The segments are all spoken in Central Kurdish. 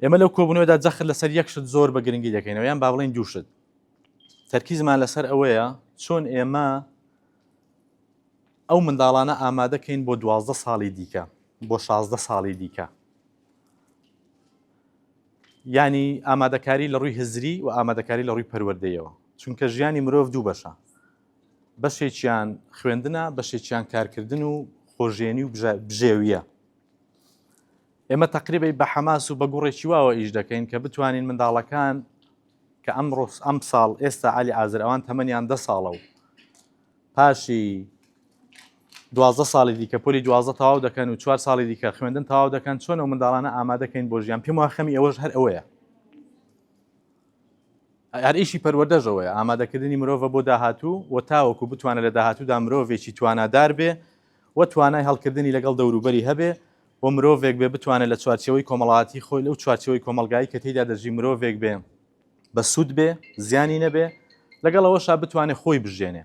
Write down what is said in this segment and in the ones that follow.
ئێمە لەو کۆبوونەوەدا جەخت لەسەر یەک شت زۆر بە گرنگی دەکەینەوە یان با بڵێن دوو شت تەرکیزمان لەسەر ئەوەیە چۆن ئێمە ئەو منداڵانە ئامادەکەین بۆ دوازدە ساڵی دیکە بۆ شازدە ساڵی دیکە ینی ئامادەکاری لە ڕووی هزری و ئامادەکاری لە ڕووی پەروەردەیەوە چونکە ژیانی مرۆڤ دوو بەشە بەشێکیان خوێندنە بەشێکیان کارکردن و خۆژێنی و بژێویە ئێمە تەقریبی بە حەماس و بە گوڕێکی واوە ئیش دەکەین کە بتوانین منداڵەکان کە ئەم ڕۆس ئەم ساڵ ئێستا علی ئازر ئەوان تەمەنیان دە ساڵە و پاشی دوازدە ساڵی دیکە پۆلی دوازدە تەواو دەکەن و چوار ساڵی دیکە خوێندن تەواو دەکەن چۆن و منداڵانە ئامادەکەین بۆ ژیان پێم واخەمی ئەوەش هەر ئەوەیە ئەریشی پەروەدەژەوەی ئامادەکردنی مرۆڤ بۆ داهاتوو و تاوەکو بتوانە لە داهاتوودا مرۆڤێکی توانادار بێ و توانای هەڵکردنی لەگەڵ دەوروبەری هەبێ و مرۆڤێک بێ بتوانێ لە چوارچێوەی کۆمەڵایەتی خۆی لەو چوارچێوەی کۆمەڵگایی کە تێیدا دەژی مرۆڤێک بێ بە سوود بێ زیانی نەبێ لەگەڵ ئەوەشا بتوانێ خۆی بژێنێ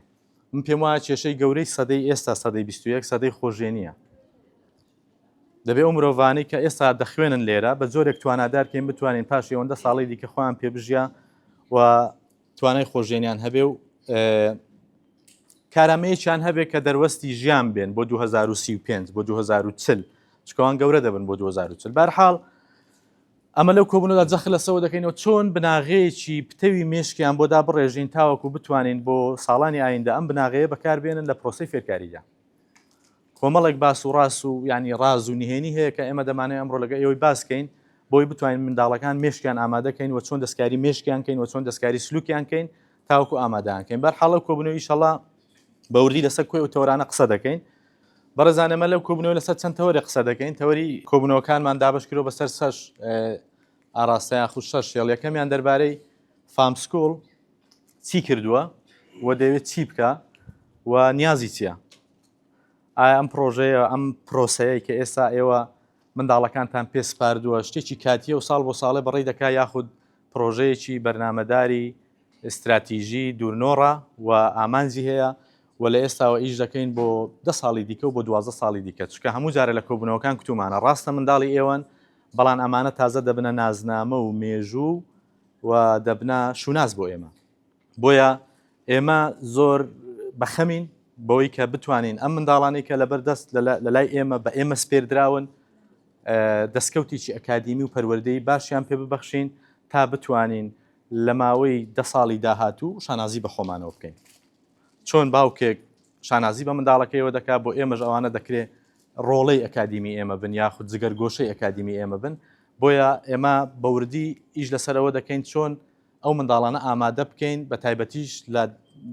من پێم وایە کێشەی گەورەی سەدەی ئێستا سەدەی بیست و یەک سەدەی خۆژێنیە دەبێ ئەو مرۆڤانەی کە ئێستا دەخوێنن لێرە بە جۆرێک توانادارکەین بتوانین پاش ئەوەندە ساڵی دیکە خۆیان پێبژیا و توانای خۆژێنیان هەبێ و کارامەیەکیان هەبێت کە دەروەستی ژیان بێن بۆ 2035 بۆ 2040 چکەوان گەورە دەبن بۆ 2040 بارحاڵ ئەمە لەو کۆبوونەدا جەخ لەسەوە دەکەینەوە چۆن بناغەیەکی پتەوی مشکیان بۆدا بڕێژین تاوەکو بتوانین بۆ ساڵانی ئایندە ئەم بناغەیە بەکاربێنن لە پرۆسی فێرکاریدا کۆمەڵێک باس و ڕاس و یانی ڕاز و نهێنی هەیە کە ئێمە دەمانەوێت ئەمڕۆ لەگەڵ ئێوەی باس کەین بۆی بتوانین منداڵەکان مێشکیان ئامادە کەین و چۆن دەستکاری مێشکیان کەین و چۆن دەستکاری سلوکیان کەین تاوکو ئامادەیان کەین بەر حاڵە کۆبنەوە ئیشەڵا بەوردی لەسەر کوێ و تەورانە قسە دەکەین بەڕێزانەمە لەو کۆبنەوە لەسەر چەند تەوەری قسە دەکەین تەوەری کۆبنەوەکانمان دابش کرۆ بەسەر سەش ئاراستەیان خو شەش هێڵ یەکەمیان دەربارەی فامسکۆڵ چی کردووە و دەوێت چی بکە و نیازی چییە ئایا ئەم پرۆژەیە ئەم پرۆسەیە کە ئێستا ئێوە منداڵەکانتان پێ سپاردووە شتێکی کاتیە و ساڵ بۆ ساڵێ بەڕی دەکا یاخود پرۆژەیەکی بەرنمەداری استراتیژی دوورنۆڕە و ئامانجی هەیە و لە ئێستاوە ئیش دەکەین بۆ ده ساڵی دیکە و بۆ دوازە ساڵی دیکە چکە هەموو جارە لە کۆبوونەوەکان کتومانە ڕاستە منداڵی ئێوەن بەڵام ئەمانە تازە دەبنە نازنامە و مێژوو و دەبنە شوناس بۆ ئێمە بۆیە ئێمە زۆر بەخەمین بەوەی کە بتوانین ئەم منداڵانی کە لەبەر دەست لە لای ئێمە بە ئێمە سپێردراون دەستکەوتێکی ئەکادیمی و پەروەردەی باشیان پێ ببەخشین تا بتوانین لە ماوەی دە ساڵی داهاتوو شانازی بە خۆمانەوە بکەین چۆن باوکێک شانازی بە منداڵەکەیەوە دەکات بۆ ئێمەش ئەوانە دەکرێت ڕۆڵەی ئەکادیمی ئێمە بن یاخود جگەر گۆشەی ئەکادیمی ئێمە بن بۆیە ئێمە بەوردی ئیش لەسەرەوە دەکەین چۆن ئەو منداڵانە ئامادە بکەین بە تایبەتیش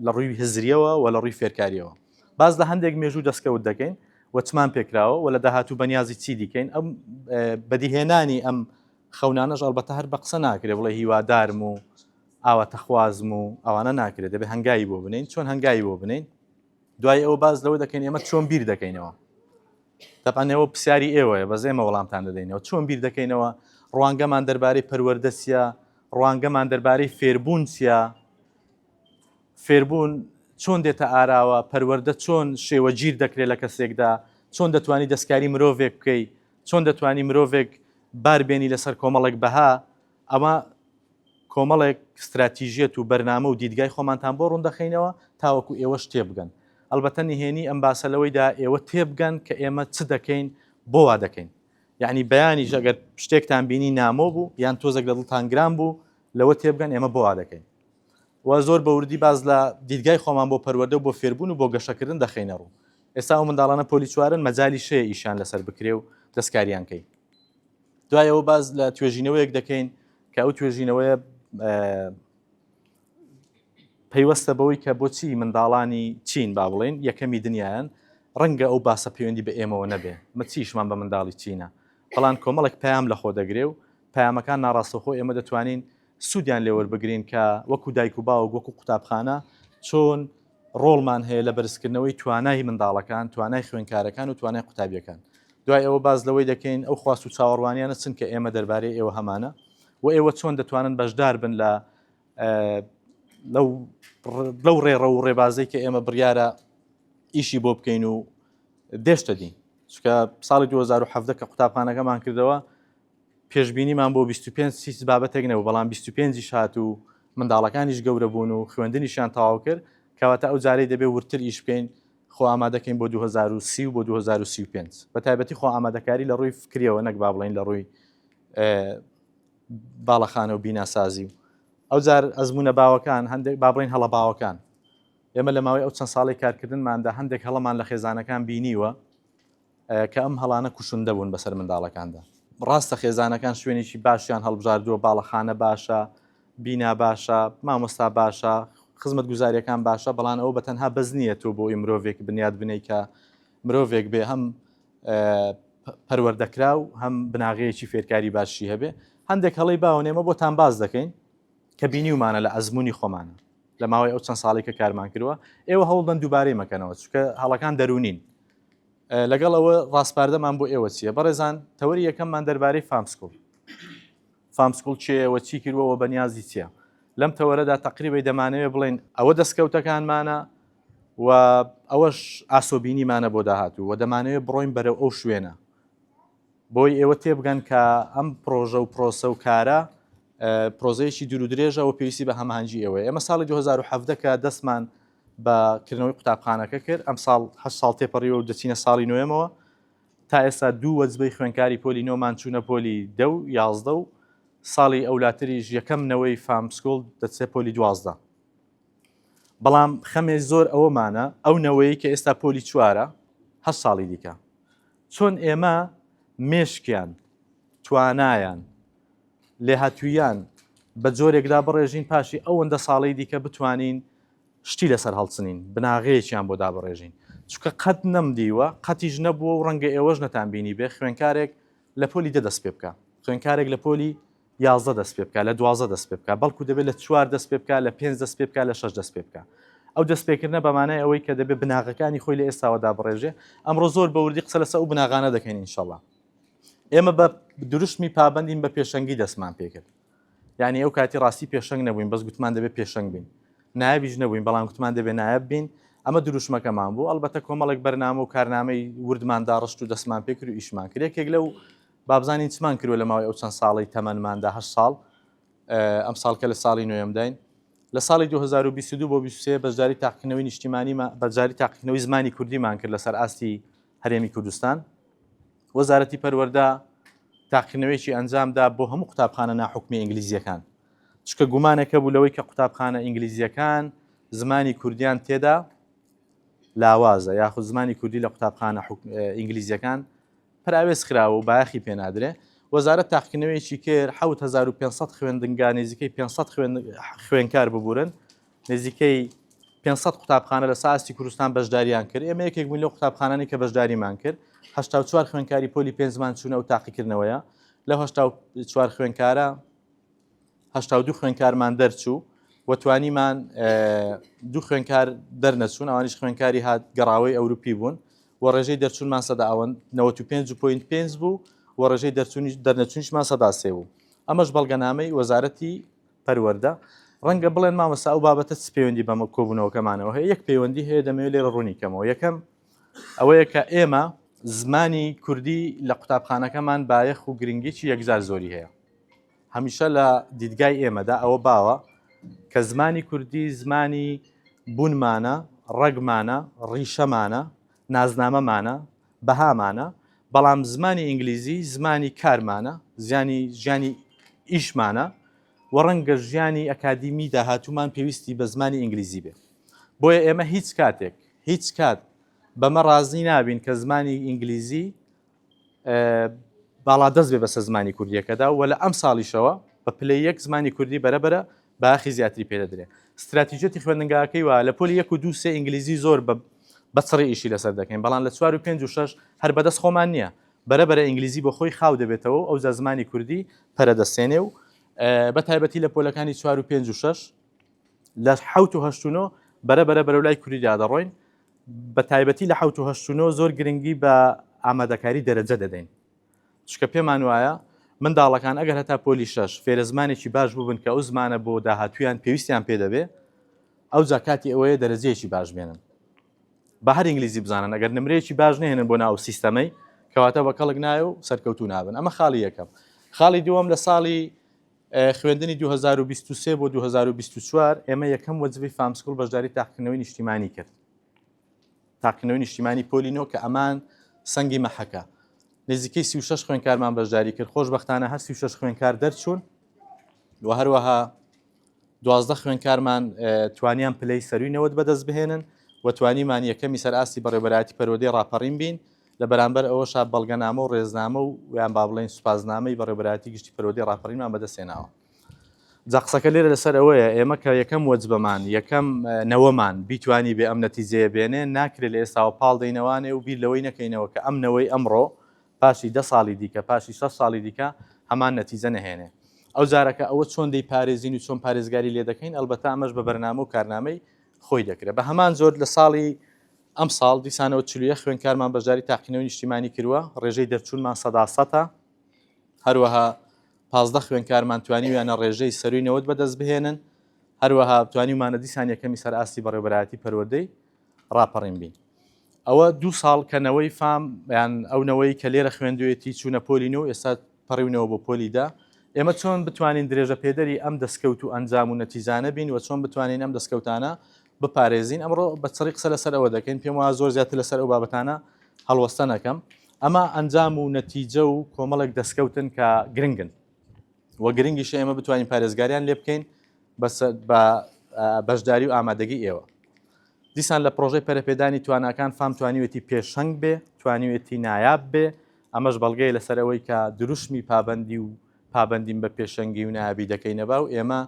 لە ڕووی هزریەوە و لە ڕووی فێرکاریەوە باز لە هەندێک مێژوو دەستکەوت دەکەین وەچمان پێکراوە و لە داهاتوو بەنیازی چی دیکەین ئەم بەدیهێنانی ئەم خەونانەش ئەڵبەتە هەر بە قسە ناکرێ بڵێ هیوادارم و ئاواتەخوازم و ئەوانە ناکرێت دەبێت هەنگایی بۆ بنین چۆن هەنگایی بۆ بنین دوای ئەوە باز لەوە دەکەین ئێمە چۆن بیر دەکەینەوە دەبانەوە پرسیاری ئێوەیە بە زێمە وەڵامتان دەدەینەوە چۆن بیر دەکەینەوە ڕوانگەمان دەربارەی پەروەردەسیە ڕوانگەمان دەربارەی فێربوون چیە فێربوون چۆن دێتە ئاراوە پەروەەردە چۆن شێوە گیر دەکرێت لە کەسێکدا چۆن دەتوانانی دەستکاری مرۆڤێک بکەیت چۆن دەتوانانی مرۆڤێک باربێنی لەسەر کۆمەڵێک بەها ئەمە کۆمەڵێک ستراتیژیەت و بەرنامە و دیدگای خۆمانتان بۆ ڕوندەخەینەوە تاوەکو ئێوەش تێبگەن. ئەلبەتە نهێنی ئەم باسە لەوەیدا ئێوە تێبگەن کە ئێمە چ دەکەین بۆ وا دەکەین. یەعنی بەیانیش ئەگەر شتێکتان بینی نامۆ بوو یان تۆزێک لە دڵتان گران بوو لەوە تێبگەن ئێمە بۆ وا دەکەین. و زۆر بە وردی باس لە دیدگای خۆمان بۆ پەروەردە و بۆ فێربوون و بۆ گەشەکردن دەخەینە ڕوو. ئێستا ئەو منداڵانە پۆلی چوارن مەجالی شەیە ئیشیان لەسەر بکرێ و دەستکاریان کەی. دوایەوە باز لە توێژینەوەیەک دەکەین کە ئەو توێژینەوەیە پەیوەستە بەوەی کە بۆچی منداڵانی چین با بڵێن یەکەمی دنیایان ڕەنگە ئەو باسە پەیوەندی بە ئێمەوە نەبێ مەچیشمان بە منداڵی چینە بەڵان کۆمەڵک پەیام لە خۆ دەگرێ و پامەکان ناڕاستەخۆ ئێمە دەتوانین سوودیان لێوەربگرین کە وەکو دایک و باوک وەکو قوتابخانە چۆن ڕۆڵمان هەیە لە بەرزکردنەوەی توانای منداڵەکان، توانای خوێنکارەکان و توانای قوتابییەکان. دوای ئەوە باس لەوەی دەکەین ئەو خواست و چاوەڕوانیانە چن کە ئێمە دەربارەی ئێوە هەمانە و ئێوە چۆن دەتوانن بەشدار بن لە لەو ڕێڕە و ڕێبازەی کە ئێمە بڕیارە ئیشی بۆ بکەین و دێشتە دین چکە ساڵی 2017 کە قوتابخانەکەمان کردەوە پێشبینیمان بۆ بیست و پێنج هیچ بابەتێک نەبوو، بەڵام بیست و پێنج یش هات و منداڵەکانیش گەورە بوون و خوێندنیشیان تەواو کرد، کەواتە ئەو جارەی دەبێت وردتر ئیش بکەین، خۆ ئامادە کەین بۆ دوو هەزار و سی و بۆ دوو هەزار و سی و پێنج، بە تایبەتی خۆ ئامادەکاری لە ڕووی فکریەوە نەک با بڵێین لە ڕووی باڵەخانە و بیناسازی و ئەو جار ئەزمونە باوەکان هەندێک با بڵێین هەڵە باوەکان ئێمە لە ماوەی ئەو چەند ساڵی کارکردنماندا هەندێک هەڵەمان لە خێزانەکان بینیوە کە ئەم هەڵانە کوشندە بوون بەسەر منداڵەکاندا. ڕاستە خێزانەکان شوێنێکی باشیان هەڵبژاردووە، باڵەخانە باشە، بینا باشە، مامۆستا باشە، خزمەتگوزارییەکان باشە، بەڵام ئەوە بەتەنها بەس نییە تۆ بۆی مرۆڤێک بنیات بنێی کە مرۆڤێک بێ هەم پەروەردەکراو هەم بناغەیەکی فێرکاری باشی هەبێ هەندێک هەڵی باوەێمە بۆتان باز دەکەین کە بینیومانە لە ئەزمموی خۆمانە لە ماوەی ئەو چەند ساڵی کە کارمان کردوە ئێوە هەوڵدەن دووبارەی مەکەنەوە چکە هەڵەکان دەرونین لەگەڵ ئەوە ڕاسپاردەمان بۆ ئێوە چییە بەڕێزان تەوەری یەکەممان دەربارەی فامسکوڵ فامسکوڵ چێەوە چی کردوەوە بە نیازی چییە لەم تەوەرەدا تقریبی دەمانەوێ بڵین ئەوە دەستکەوتەکانمانە و ئەوەش ئاسۆبینیمانە بۆ داهاتوو و دەمانەوێت بڕۆین بەرەو ئەو شوێنە بۆی ئێوە تێبگەن کە ئەم پرۆژە و پرۆسە و کارە پرۆزەیەکی دوور درێژەوە پێویستی بە هەمانجی ئەوەیە ئێمە ساڵی 2017 کە دەستمان بە کردنەوەی قوتابخانەکە کرد ئەمساڵ هە ساڵ تێپەڕیوە و دەچینە ساڵی نوێمەوە تا ئێستا دوو وەجبەی خوێنکاری پۆلی نۆمان چوونە پۆلی دە و یازدە و ساڵی ئەولاتریش یەکەم نەوەی فامسکۆل دەچێ پۆلی دوازدە بەڵام خەمێ زۆر ئەوەمانە ئەو نەوەیە کە ئێستا پۆلی چوارە هە ساڵی دیکە چۆن ئێمە مێشکیان توانایان لێهاتووییان بە جۆرێکدا بڕێژین پاشی ئەوەندە ساڵەی دیکە بتوانین شتی لەسەر هەڵچنین، بناغەیەکیان بۆ دابڕێژین. چونکە قەت نەمدیوە، قەتیش نەبووە و ڕەنگە ئێوەش نەتان بینیبێ، خوێنکارێک لە پۆلی دە دەست پێ بکا، خوێنکارێک لە پۆلی یازدە دەست پێ بکا، لە دوازدە دەست پێ بکا، بەڵکو دەبێ لە چوار دەست پێ بکا، لە پێنج دەست پێ بکا، لە شەش دەست پێ بکا. ئەو دەستپێکردنە بە مانای ئەوەی کە دەبێ بناغەکانی خۆی لە ئێستاوە دابڕێژێ. ئەمڕۆ زۆر بە وردی قسە لەسەر ئەو بناغانە دەکەین ئینشەڵا. ئێمە بە دروشمی پابندین بە پێشەنگی دەستمان پێکرد یعنی ئەو کاتی ڕاستی پێشنگ نەبووین بەس گوتمان دەبێت پێشنگ بین نایبیش نەبووین بەڵام گوتمان دەبێ نایب بین ئەمە دروشمەکەمان بوو ئەلبەتە کۆمەڵێک بەرنامە و کارنامەی وردمان داڕشت و دەستمان پێکرد و ئیشمان کرێکێک لەو بابزانین چمان کردوە لە ماوەی ئەو چەند ساڵی تەمەماندا هە ساڵ ئەم ساڵکە لە ساڵی نوێمداین لە ساڵی 2022 بۆ 23 بەشداری تاقیکردنەوەی نیشتیمانیمە بەجاری تاقیکردنەوەی زمانی کوردیمان کرد لەسەر ئاستی هەرێمی کوردستان، وەزارەتی پەروەردە تاقیکردنەوەیەکی ئەنجامدا بۆ هەموو قوتابخانە ناحکومی ئینگلیزیەکان، چکە گومانێک هەبوو لەوەی کە قوتابخانە ئینگلیزیەکان زمانی کوردیان تێدا لاوازە یاخود زمانی کوردی لە قوتابخانە ئینگلیزیەکان پراوێز خراوە و بایەخی پێنادرێ وەزارەت تاقیکردنەوەیەکی کرد 1500 خوێندنگا نزیکەی 500 خوێنکار ببورن نزیکەی پێنج سەد قوتابخانە لە سەر ئاستی کوردستان بەشدارییان کرد، ئێمە یەکێک بووین لەو قوتابخانانەی کە بەشداریمان کرد، هەشتا و چوار خوێندکاری پۆلی پێنجمان چوونە ئەو تاقیکردنەوەیە، لەو هەشتا و چوار خوێندکارە هەشتا و دوو خوێندکارمان دەرچوو و توانیمان دوو خوێندکار دەرنەچوون، ئەوانیش خوێندکاری هات گەڕاوەی ئەوروپی بوون و ڕێژەی دەرچوونمان سەدا ئەوەن 95.5 بوو و ڕێژەی دەرچوونیش دەرنەچوونیشمان سەدا سێ بوو، ئەمەش بەڵگەنامەی وەزارەتی پەروەردە، ڕەنگە بڵێن مامۆستا ئەو بابەتە چ پەیوەندی بە کۆبوونەوەکەمانەوە هەیە، یەک پەیوەندی هەیە دەمەوێت لێرە ڕوونی کەمەوە، یەکەم ئەوەیە کە ئێمە زمانی کوردی لە قوتابخانەکەمان بایەخ و گرنگیی یەکجار زۆری هەیە. هەمیشە لە دیدگای ئێمەدا ئەوە باوە کە زمانی کوردی زمانی بوونمانە، ڕەگمانە، ڕیشەمانە، نازنامەمانە، بەهامانە، بەڵام زمانی ئینگلیزی زمانی کارمانە، زیانی ژیانی ئیشمانە و ڕەنگە ژیانی ئەکادیمی داهاتوومان پێویستی بە زمانی ئینگلیزی بێ. بۆیە ئێمە هیچ کاتێک، هیچ کات بەمە ڕازی نابین کە زمانی ئینگلیزی باڵادەست بێ بەسەر زمانی کوردییەکەدا و لە ئەمساڵیشەوە بە پلەی یەک زمانی کوردی بەرەبەرە باخی زیاتری پێ دەدرێ. ستراتیجەتی خوێندنگاکەی وایە لە پۆلی یەک و دوو سێ ئینگلیزی زۆر بە بە چڕی ئیشی لەسەر دەکەین، بەڵام لە چوار و پێنج و شەش هەر بە دەست خۆمان نییە، بەرە بەرە ئینگلیزی بۆ خۆی خاو دەبێتەوە و ئەوجا زمانی کوردی پەرە دەستێنێ و بە تایبەتی لە پۆلەکانی چوار و پێنج و شەش لە حەوت و هەشت و نۆ بەرە بەرە بەرەو لای کوردیدا دەڕۆین بە تایبەتی لە حەوت و هەشت و نۆ زۆر گرنگی بە ئامادەکاری دەرەجە دەدەین چونکە پێمان وایە منداڵەکان ئەگەر هەتا پۆلی شەش فێرە زمانێکی باش بووبن کە ئەو زمانە بۆ داهاتوویان پێویستیان پێ دەبێ ئەوجا کاتی ئەوەیە دەرەجەیەکی باش بێنن بە هەر ئینگلیزی بزانن ئەگەر نمرەیەکی باش نێنن بۆ ناو سیستەمەی کەواتە بە کەڵک نایە و سەرکەوتو نابن ئەمە خاڵی یەکەم خاڵی دووەم لە ساڵی خوێندنی 2023 بۆ 2024 ئێمە یەکەم وەزبی فامسکول بەشداری تاقکردنەوەی نیشتیمانی کرد تاقیکردنەوەی نیشتیمانی پۆلی نۆ کە ئەمان سەنگی مەحەکە نزیکەی سی و شەش خوێنکارمان بەشداری کرد خۆشببختانە هەر سی و شەش خوێنکار دەرچوون و هەروەها دوازدە خوێنکارمان توانیان پلەی سەروی نەوەت بەدەست بهێنن و توانیمان یەکەمی سەر ئاستی بەڕێبەراتی پەرۆدەی ڕاپەڕین بین لە بەرامبەر ئەوەشا بەڵگەنامە و ڕێزنامە و یان با بڵێن سوپاسنامەی بەڕێبەراتی گشتی پەرۆدەی ڕاپەڕینمان بەدەستێناوە جا قسەکە لێرە لەسەر ئەوەیە ئێمە کە یەکەم وەجبەمان یەکەم نەوەمان بیتوانی بێ ئەم نەتیجەیە بێنێ ناکرێت لە ئێستاوە پاڵ دەینەوانێ و بیر لەوەی نەکەینەوە کە ئەم نەوەی ئەمڕۆ پاشی دە ساڵی دیکە پاشی شە ساڵی دیکە هەمان نەتیجە نەهێنێ ئەو جارەکە ئەوە چۆن دەی پارێزین و چۆن پارێزگاری لێ دەکەین ئەلبەتا ئەمەش بە بەرنامە و کارنامەی خۆی دەکرێت بە هەمان زۆر لە ساڵی ئەم ساڵ دیسانەوە چلوە خوێنکارمان بەشداری تاقینەوە نیشتیمانی کردووە ڕێژەی دەرچوونمان سەدا سەتە هەروەها پازدە خوێندکارمان توانیویانە ڕێژەی سەرووی نەوەد بەدەستبهێنن، هەروەها توانیومانە دیسان یەکەمی سەر ئاستی بەڕێوەبەرایەتی پەروەردەی ڕاپەڕین بین. ئەوە دوو ساڵ کە نەوەی فام یان ئەو نەوەی کە لێرە خوێندوێتی چوونە پۆلی نۆ و ئێستا پەڕیونەوە بۆ پۆلی دە، ئێمە چۆن بتوانین درێژەپێدەری ئەم دەستکەوت و ئەنجام و نەتیجانە بین و چۆن بتوانین ئەم دەستکەوتانە بپارێزین ئەمڕۆ بە چڕی قسە لەسەر ئەوە دەکەین پێم وایە زۆر زیاتر لەسەر ئەو بابەتانە هەڵوەستە نەکەم ئەمە ئەنجام و نەتیجە و کۆمەڵێک دەستکەوتن کە گرنگن و گرنگیش ئێمە بتوانین پارێزگاریان لێ بکەین بە بەشداری و ئامادەگی ئێوە دیسان لە پرۆژەی پەرپێدانی تواناکان فام توانیوێتی پێشەنگ بێ توانیوێتی نایاب بێ ئەمەش بەڵگەی لەسەرەوەی کە دروشمی پابندی و پابندیم بە پێشەنگی و نابی دەکەینەبا و ئێمە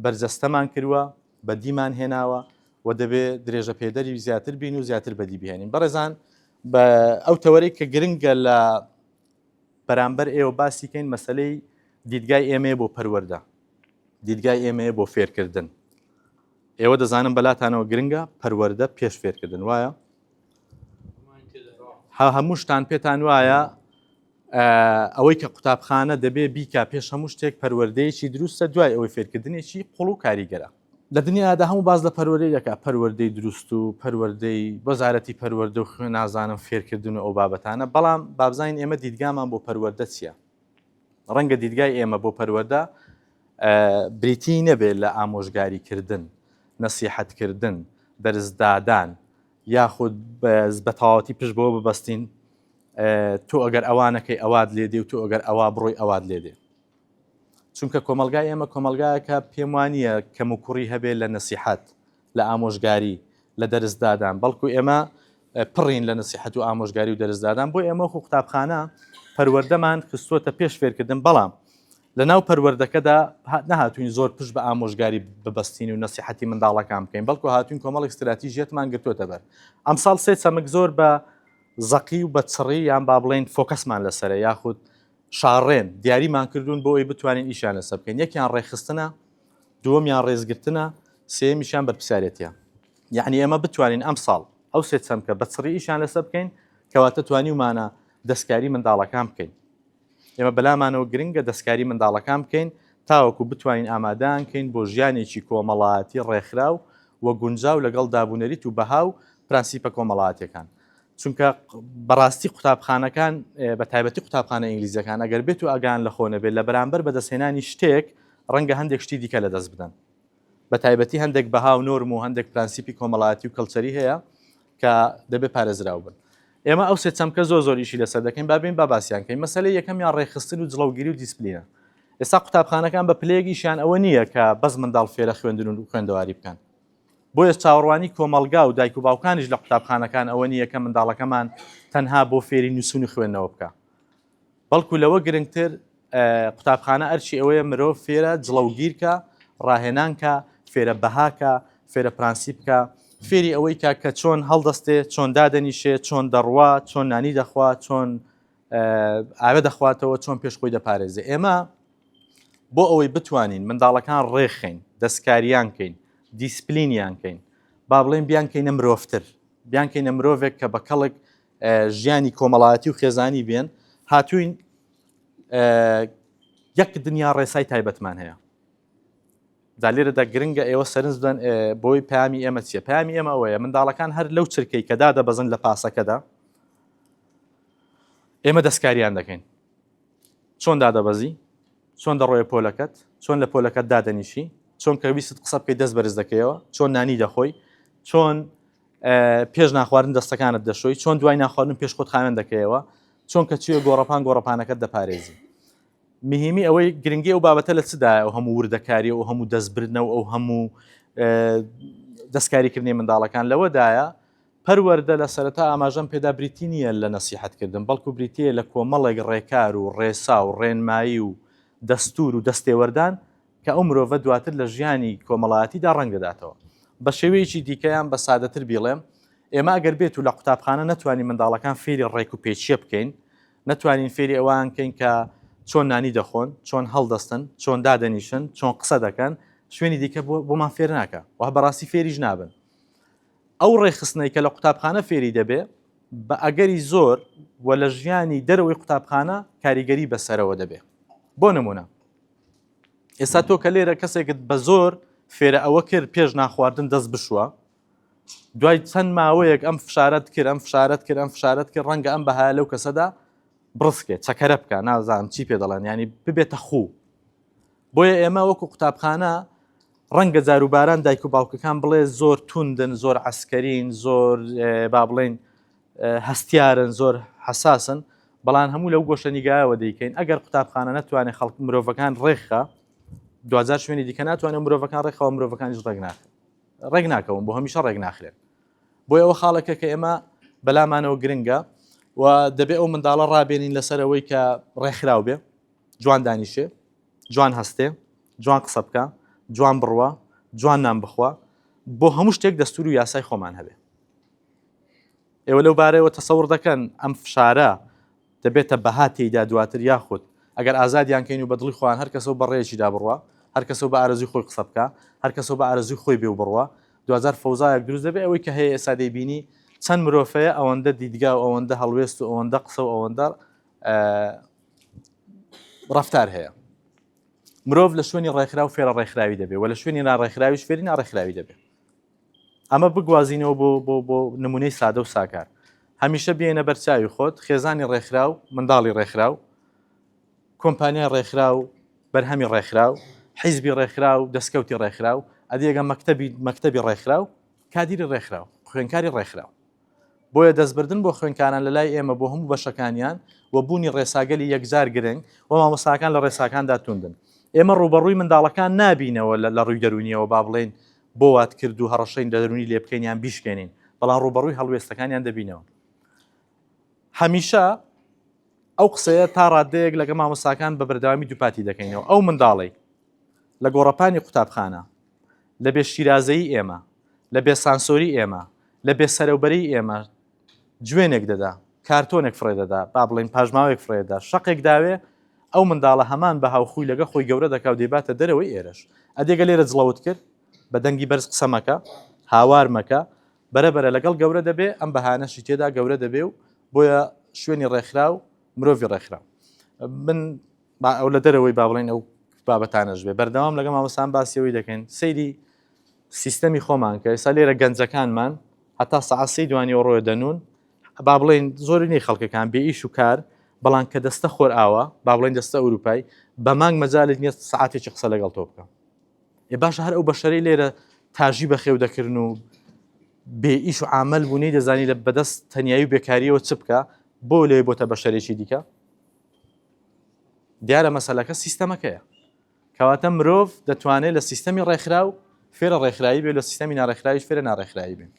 بەرجەستەمان کروە، بەدیمان هێناوە و دەبێ درێژەپێدەری زیاتر بین و زیاتر بەدی بهێنین. بەڕێزان بە ئەو تەوەرەی کە گرنگە لە بەرامبەر ئێوە باسی کەین مەسلەی دیدگای ئێمەیە بۆ پەروەەردە دیدگای ئێمەیە بۆ فێرکردن ئێوە دەزانم بەلاتانەوە گرنگە پەروەەردە پێش فێرکردن وایە هەمووشتان پێتان وایە ئەوەی کە قوتابخانە دەبێ بیکا پێش هەموو شتێک پەروەردەیەکی دروستە دوای ئەوەی فێرکردنێکی قوڵ و کاریگەرە. لە دنیادا هەموو باس لە پەروەردەی دەکات، پەروەردەی دروست و پەروەردەی وەزارەتی پەروەردە و خوێ نازانم فێرکردن و ئەو بابەتانە، بەڵام با بزانین ئێمە دیدگامان بۆ پەروەردە چییە؟ ڕەنگە دیدگای ئێمە بۆ پەروەردە بریتیی نەبێت لە ئامۆژگاریکردن، نەسیحەتکردن، دەرسدادان یاخود بە تەواوەتی پشت بەوە ببەستین، تۆ ئەگەر ئەوا نەکەی ئەوات لێ دێ و تۆ ئەگەر ئەوا بڕۆی ئەوات لێ دێ چونکە کۆمەلگای ئێمە کۆمەلگایەکە پێم وانە کەم و کوڕی هەبێ لە نسیحەت لە ئامۆژگاری لە دەرزدادان بەڵکو ئێمە پڕین لە نسیحەت و ئامۆژگاری و دەرزدادان بۆ ئێمە خو قوتابخانە پەروەردەمان خستووەتە پێش فێرکردن بەڵام لە ناو پەروەردەکەدا نهاتوین زۆر پشت بە ئامۆژگاری ببستین و نسیحەتی منداڵەکان بکەین بەڵکو هاتوین کۆمەڵی استراتیژیەتمان گرتوتە بەر ئەمساڵ سێ چەمک زۆر بە زەقی و بە چڕی یان با بڵێین فۆکەسمان لەسەرە یاخود شاڕێن، دیاریمان کردوون بۆ ئەوی بتوانین ئیشیان لەسەر بکەین، یەکیان ڕێکخستنە، دووەمیان ڕێزگرتنە، سێیەمیشیان بەرپرسیارێتییە. یەعنی ئێمە بتوانین ئەمساڵ ئەو سێ چەمکە بە چڕی ئیشیان لەسەر بکەین، کەواتە توانیومانە دەستکاری منداڵەکان بکەین. ئێمە بەلامانەوە گرنگە دەستکاری منداڵەکان بکەین تاوەکو بتوانین ئامادەیان کەین بۆ ژیانێکی کۆمەڵایەتی ڕێکخراو و گونجاو لەگەڵ دابونەریت و بەها و پرەنسیپە کۆمەڵایەتیەکان چونکە بەڕاستی قوتابخانەکان بە تایبەتی قوتابخانە ئینگلیزیەکان ئەگەر بێت و ئەگان لە خۆ نەبێت لە بەرامبەر بەدەستهێنانی شتێک ڕەنگە هەندێک شتی دیکە لەدەست بدەن بە تایبەتی هەندێک بەها و نۆرم و هەندێک پرەنسیپی کۆمەڵایەتی و کەڵچەری هەیە کە دەبێ پارێزراو بن. ئێمە ئەو سێ چەمکە زۆر زۆر ئیشی لەسەر دەکەین، با بێین با باسیان کەین. مەسەلەی یەکەمیان ڕێکخستن و جڵەوگیری و دیسپلینە. ئێستا قوتابخانەکان بە پلەیەک ئیشیان ئەوە نییە کە بەس منداڵ فێرە خوێندن و خوێندەواری بکەن. بۆیەش چاوەڕوانی کۆمەڵگا و دایک و باوکانیش لە قوتابخانەکان ئەوە نییە کە منداڵەکەمان تەنها بۆ فێری نووسین و خوێندنەوە بکا. بەڵکو لەوە گرنگتر قوتابخانە ئەرکی ئەوەیە مرۆڤ فێرە جڵەوگیرکە، ڕاهێنانکە، فێرە بەهاکە، فێرە پرەنسیپکە، فێری ئەوەیکە کە چۆن هەڵدەستێ، چۆن دادەنیشێ، چۆن دەڕوا، چۆن نانی دەخوا، چۆن ئاوێ دەخواتەوە، چۆن پێش خۆی دەپارێزێ. ئێمە بۆ ئەوەی بتوانین منداڵەکان ڕێخەین، دەستکاریان کەین، دیسپلینیان کەین، با بڵێن بیانکەینە مرۆڤتر، بیانکەینە مرۆڤێک کە بە کەڵک ژیانی کۆمەڵایەتی و خێزانی بێن هاتوین یەک دنیا ڕێسای تایبەتمان هەیە دا لێرەدا گرنگە ئێوە سەرنج بدەن بۆی پامی ئێمە چیە پامی ئێمە ئەوەیە منداڵەکان هەر لەو چرکەی کەدا دەبەزن لە پاسەکەدا ئێمە دەستکاریان دەکەین چۆن دادەبەزی چۆن دەڕۆێ پۆلەکەت چۆن لە پۆلەکەت دادەنیشی چۆن کەویست قسە بکەی دەست بەرز دەکەیەوە چۆن نانی دەخۆی چۆن پێش ناخواردن دەستەکانت دەشۆی چۆن دوای ناخواردن پێش خۆت خاوێن دەکەیەوە چۆن کە چێ گۆڕەپان گۆڕەپانەکەت دەپارێزی مهمی ئەوەی گرنگی ئەو بابەتە لە چدا ئەو هەموو وردەکاری و هەموو دەستبردنەوە ئەو هەموو دەستکاریکردنی منداڵەکان لەوەدایە پەروەەردە لە سەرەتا ئاماژەم پێدا بریتی نییە لە نەسیحەتکردن بەڵکو بریتە لە کۆمەڵێک ڕێکار و ڕێسا و ڕێنمایی و دەستور و دەستێوەردان کە ئەو مرۆڤە دواتر لە ژیانی کۆمەڵایەتیدا ڕەنگ دەداتەوە. بە شێوەیەکی دیکە یان بە سادەتر بیڵێم، ئێمە ئەگەر بێتو لە قوتابخانە نەتوانین منداڵەکان فێری ڕێک و پێچییە بکەین، نەتوانین فێری ئەوان کەین کە چۆن نانی دەخۆن، چۆن هەڵدەستن، چۆن دادەنیشن، چۆن قسە دەکەن، شوێنی دیکە بۆمان فێر ناکا و بە ڕاستی فێریش نابن. ئەو ڕێکخستنەی کە لە قوتابخانە فێری دەبێ، بە ئەگەری زۆر و لە ژیانی دەرەوەی قوتابخانە کاریگەری بەسەرەوە دەبێ. بۆ نموونە. ئێستا تۆ کە لێرە کەسێکت بە زۆر فێرە ئەوە کرد پێش ناخواردن دەست بشوە دوای چەند ماوەیەک ئەم فشارەت کرد ئەم فشارەت کرد ئەم فشارەت کرد ڕەنگە ئەم بەها لەو کەسەدا بڕسکێ چەکەرە بکە نازانم چی پێ دەڵێن ینی ببێتە خوو بۆیە ئێمە وەکو قوتابخانە ڕەنگە جاروباران دایک و باوکەکان بڵێ زۆر توندن زۆر عسکەرین زۆر با بڵین هەستیارن زۆر حەساسن بەڵان هەموو لەو گۆشە نیگایەوە دەیکەین ئەگەر قوتابخانە ناتوانێت خەڵک مرۆڤەکان ڕێکخە دوجار شوێنی دیکە ناتوانێت مرۆڤەکان ڕێکخەوە مرۆڤەکانیش ڕێک ناخ ڕێک ناکەون بۆ هەمیشە ڕێک ناخرێن بۆ ئەوە خاڵەکە کە ئێمە بەلامانەوە گرنگە و دەبێ ئەو منداڵە ڕابێنین لەسەرەوەی کە ڕێکخراو بێ جوان دانیشێ جوان هەستێ جوان قسە بکە جوان بڕوە جوان نان بخوا بۆ هەموو شتێک دەستور و یاسای خۆمان هەبێ ئێوە لەو بارەیەوە تەسەور دەکەن ئەم فشارە دەبێتە بەها تێیدا دواتر یاخود ئەگەر ئازادیان کەین و بەدڵی خۆیان هەر کەسەوە بەڕێکی دا بڕە هەر کەسەوە بە ئارزوی خۆی قسە بکە هەر کەسەوە بە ئارزوی خۆی بێ و بڕە دوجار فەوزایەک دروست دەبێ ئەوەی کە هەیە ئێستا دەیبینی چەند مرۆڤەیە ئەوەندە دیدگا و ئەوەندە هەڵوێست و ئەوەندە قسە و ئەوەندە ڕفتار هەیە مرۆڤ لە شوێنی ڕێکخرا و فێرە ڕێکخراوی دەبێ و لە شوێنی ناڕێکخراویش فێری ناڕێکخراوی دەبێت ئەمە بگوازینەوە بۆ بۆ بۆ نمونەی سادە و ساکار هەمیشە بێنە بەرچاوی خۆت خێزانی ڕێکخرا و منداڵی ڕێکخرا و کۆمپانیای ڕێکخرا و بەرهەمی ڕێکخرا و حیزبی ڕێکخرا و دەستکەوتی ڕێکخرا و ئەدیێگە مەکتتەبی مەکتتەبی ڕێکخرا و کادیری ڕێکخرا و خوێنکاری ڕێکخرا و بۆیە دەستبردن بۆ خوێنکاران لە لای ئێمە بۆ هەموو بەشەکانیان و بوونی ڕێساگەلی یەکجار گرنگ و مامۆساکان لە ڕێساکاندا توندن ئێمە ڕوبەڕووی منداڵەکان نابینەوە لە ڕووی دەرونیەوە با بڵێن بۆ وات کرد دوو هەڕەشەی دەروونی لێ بکەین یان بیشکێنین، بەڵام ڕووبەڕووی هەڵوێستەکانیان دەبینەوە. هەمیشە ئەو قسەیە تا ڕاددەیەک لەگەڵ مامۆستاکان بە بەردەوامی دووپاتی دەکەینەوە، ئەو منداڵەی لە گۆڕەپانی قوتابخانە، لە بێ شیرازەیی ئێمە، لە بێسانسۆری ئێمە، لە بێسەرەوبەریی ئێمە جوێنێک دەدا، کارتۆنێک فڕێ دەدا، با بڵێین پاژماوەیەک فڕێ دەدا، شەقێک داوێ، ئەو منداڵە هەمان بەها و خووی لەگە خۆی گەورە دەکا و دەیباتە دەرەوەی ئێرەش. ئەدێگە لێرە جڵەوت کرد، بە دەنگی بەرز قسە مەکە، هاوار مەکە، بەرە بەرە لەگەڵ گەورە دەبێ، ئەم بەهایانەشی تێدا گەورە دەبێ و بۆیە شوێنی ڕێکخراو، مرۆڤی ڕێکخراو. من با ئەو لە دەرەوەی با بڵێین ئەو بابەتانەش بێ، بەردەوام لەگەڵ مامۆستان باسی ئەوەی دەکەین، سەیری سیستەمی خۆمان کە ئێستا لێرە گەنجەکانمان هەتا سەعات سی دوانی و ڕۆێ دەنون با بڵین زۆری نی خەڵکەکان بێ ئیش و کار بەڵام کە دەستە خۆر ئاوە با بڵین دەستە ئەوروپای بە مانگ مەجالت نیە ساعتێکی قسە لەگەڵ تۆ بکەم ێ باش هەر ئەو بەشەری لێرە تاژی بەخێو دەکردن و بێ ئیش و عمل بوونی دەزانی لە بەدەست تەنایی و بێکاریەوە چ بکە بۆ لێ بۆتە بەشەرێکی دیکە دیارە مەسلەکە سیستەمەکەیە کەواتە مرۆڤ دەتوانێت لە سیستەمی ڕێکخراو فێرە ڕێکخرایی بێت لە سیستەمی ناڕێکخراویش فێرە ناڕێکخرایی بێت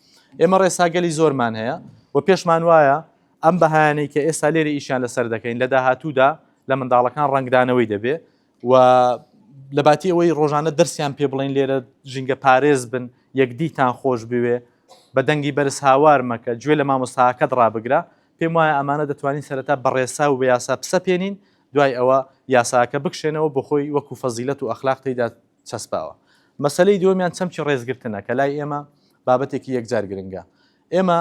ئێمە ڕێساگەلی زۆرمان هەیە و پێشمان وایە ئەم بەهانەی کە ئێستا لێرە ئیشیان لەسەر دەکەین لە داهاتوودا لە منداڵەکان ڕنگدانەوەی دەبێ و لە باتی ئەوەی ڕۆژانە دەرسیان پێ بڵین لێرە ژینگە پارێز بن یەکدیتان خۆش بوێ بە دەنگی بەرز هاوار مەکە گوێ لە مامۆستاکەت ڕابگرە پێم وایە ئەمانە دەتوانین سەرەتا بەڕێسا و بە یاسا پسە پێێنین دوای ئەوە یاساکە بکشێنەوە بۆخۆی وەکو فەزیلەت و ئەخلاق تێیدا چەسپاوە. مەسەلەی دووەمیان چەمکی ڕێزگرتنە کە لای ئێمە بابەتێکی یەکجار گرنگە. ئێمە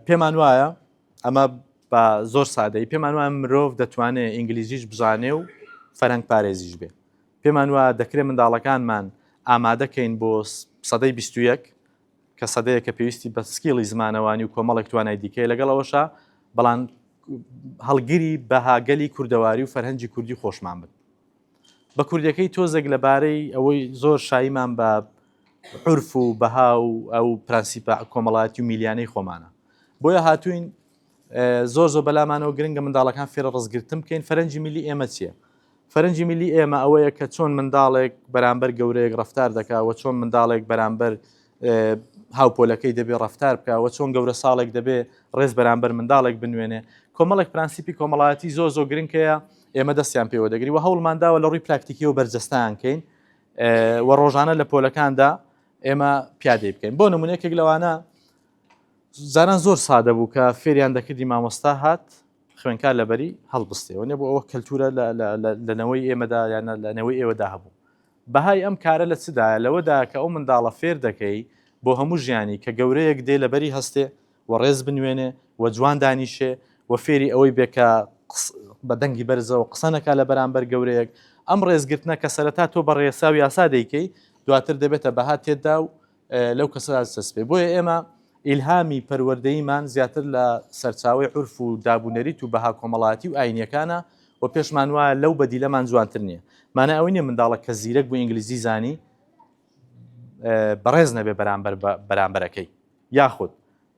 پێمان وایە ئەمە بە زۆر سادەی پێمان وایە مرۆڤ دەتوانێت ئینگلیزیش بزانێ و فەرەنگ پارێزیش بێ. پێمان وایە دەکرێت منداڵەکانمان ئامادەکەین بۆ سەدەی بیستویەک کە سەدەیەکە پێویستی بە سکیڵی زمانەوانی و کۆمەڵێک توانای دیکەی لەگەڵ ئەوەشە بەڵام هەڵگری بەهاگەلی کوردەواری و فەرهەنگی کوردی خۆشمان بن بە کوردەکەی تۆزێک لەبارەی ئەوەی زۆر شایمان بە عرف و بەها و ئەو پرەنسیپە کۆمەڵایەتی و میلیانەی خۆمانە بۆیە هاتوین زۆر زۆر بەلامانەوە گرنگە منداڵەکان فێرە ڕزگرتن بکەین فەرەنجی میلی ئێمە چییە؟ فەرەنجی میلی ئێمە ئەوەیە کە چۆن منداڵێک بەرامبەر گەورەیەک ڕفتار دەکا و چۆن منداڵێک بەرامبەر هاوپۆلەکەی دەبێ ڕفتار بکە و چۆن گەورە ساڵێک دەبێ ڕێز بەرامبەر منداڵێک بنوێنێ کۆمەڵێک پرەنسیپی کۆمەڵایەتی زۆر زۆر گرنگەیە ئێمە دەستیان پێوە دەگری و هەوڵمانداوە لە ڕووی پراکتیکی و بەرجەستان کەین و ڕۆژانە لە پۆلەکاندا ئێمە پیادەی بکەین بۆ نمونونێکێک لەوانە جاران زۆر سادە بوو کە فێریان دەکردی مامۆستا هات خوێنکار لەبەری هەڵبستێەوەێ بۆ ئەوە کەلتورە لەنەوەی ئێمەدا یان لەنەوەی ئێوەدا هەبوو بەهای ئەم کارە لە چدایە لەوەدا کە ئەو منداڵە فێر دەکەی بۆ هەموو ژیانی کە گەورەیەک دێ لەبەری هەستێ و ڕێز بنوێنێ و جوان دانیشێ و فێری ئەوەی بێکە بە دەنگی بەرزەوە قسەنەکە لە بەرامبەر گەورەیەک ئەم ڕێزگرتنە کە سەرەتا تۆ بە ڕێسا و یاسا دەیکەی دواتر دەبێتە بەها تێدا و لەو کەسەدا دەچەسپێ بۆیە ئێمە ئیلهامی پەروەردەیمان زیاتر لە سەرچاوی عورف و دابونەریت و بەها کۆمەڵاتی و ئاینیەکانە و پێشمان وایە لەو بەدیلەمان جوانتر نییە مانای ئەوەی نیە منداڵە کە زیرەک بوو ئینگلیزی زانی بەڕێز نەبێ بەرامبەر بەرامبەرەکەی یاخود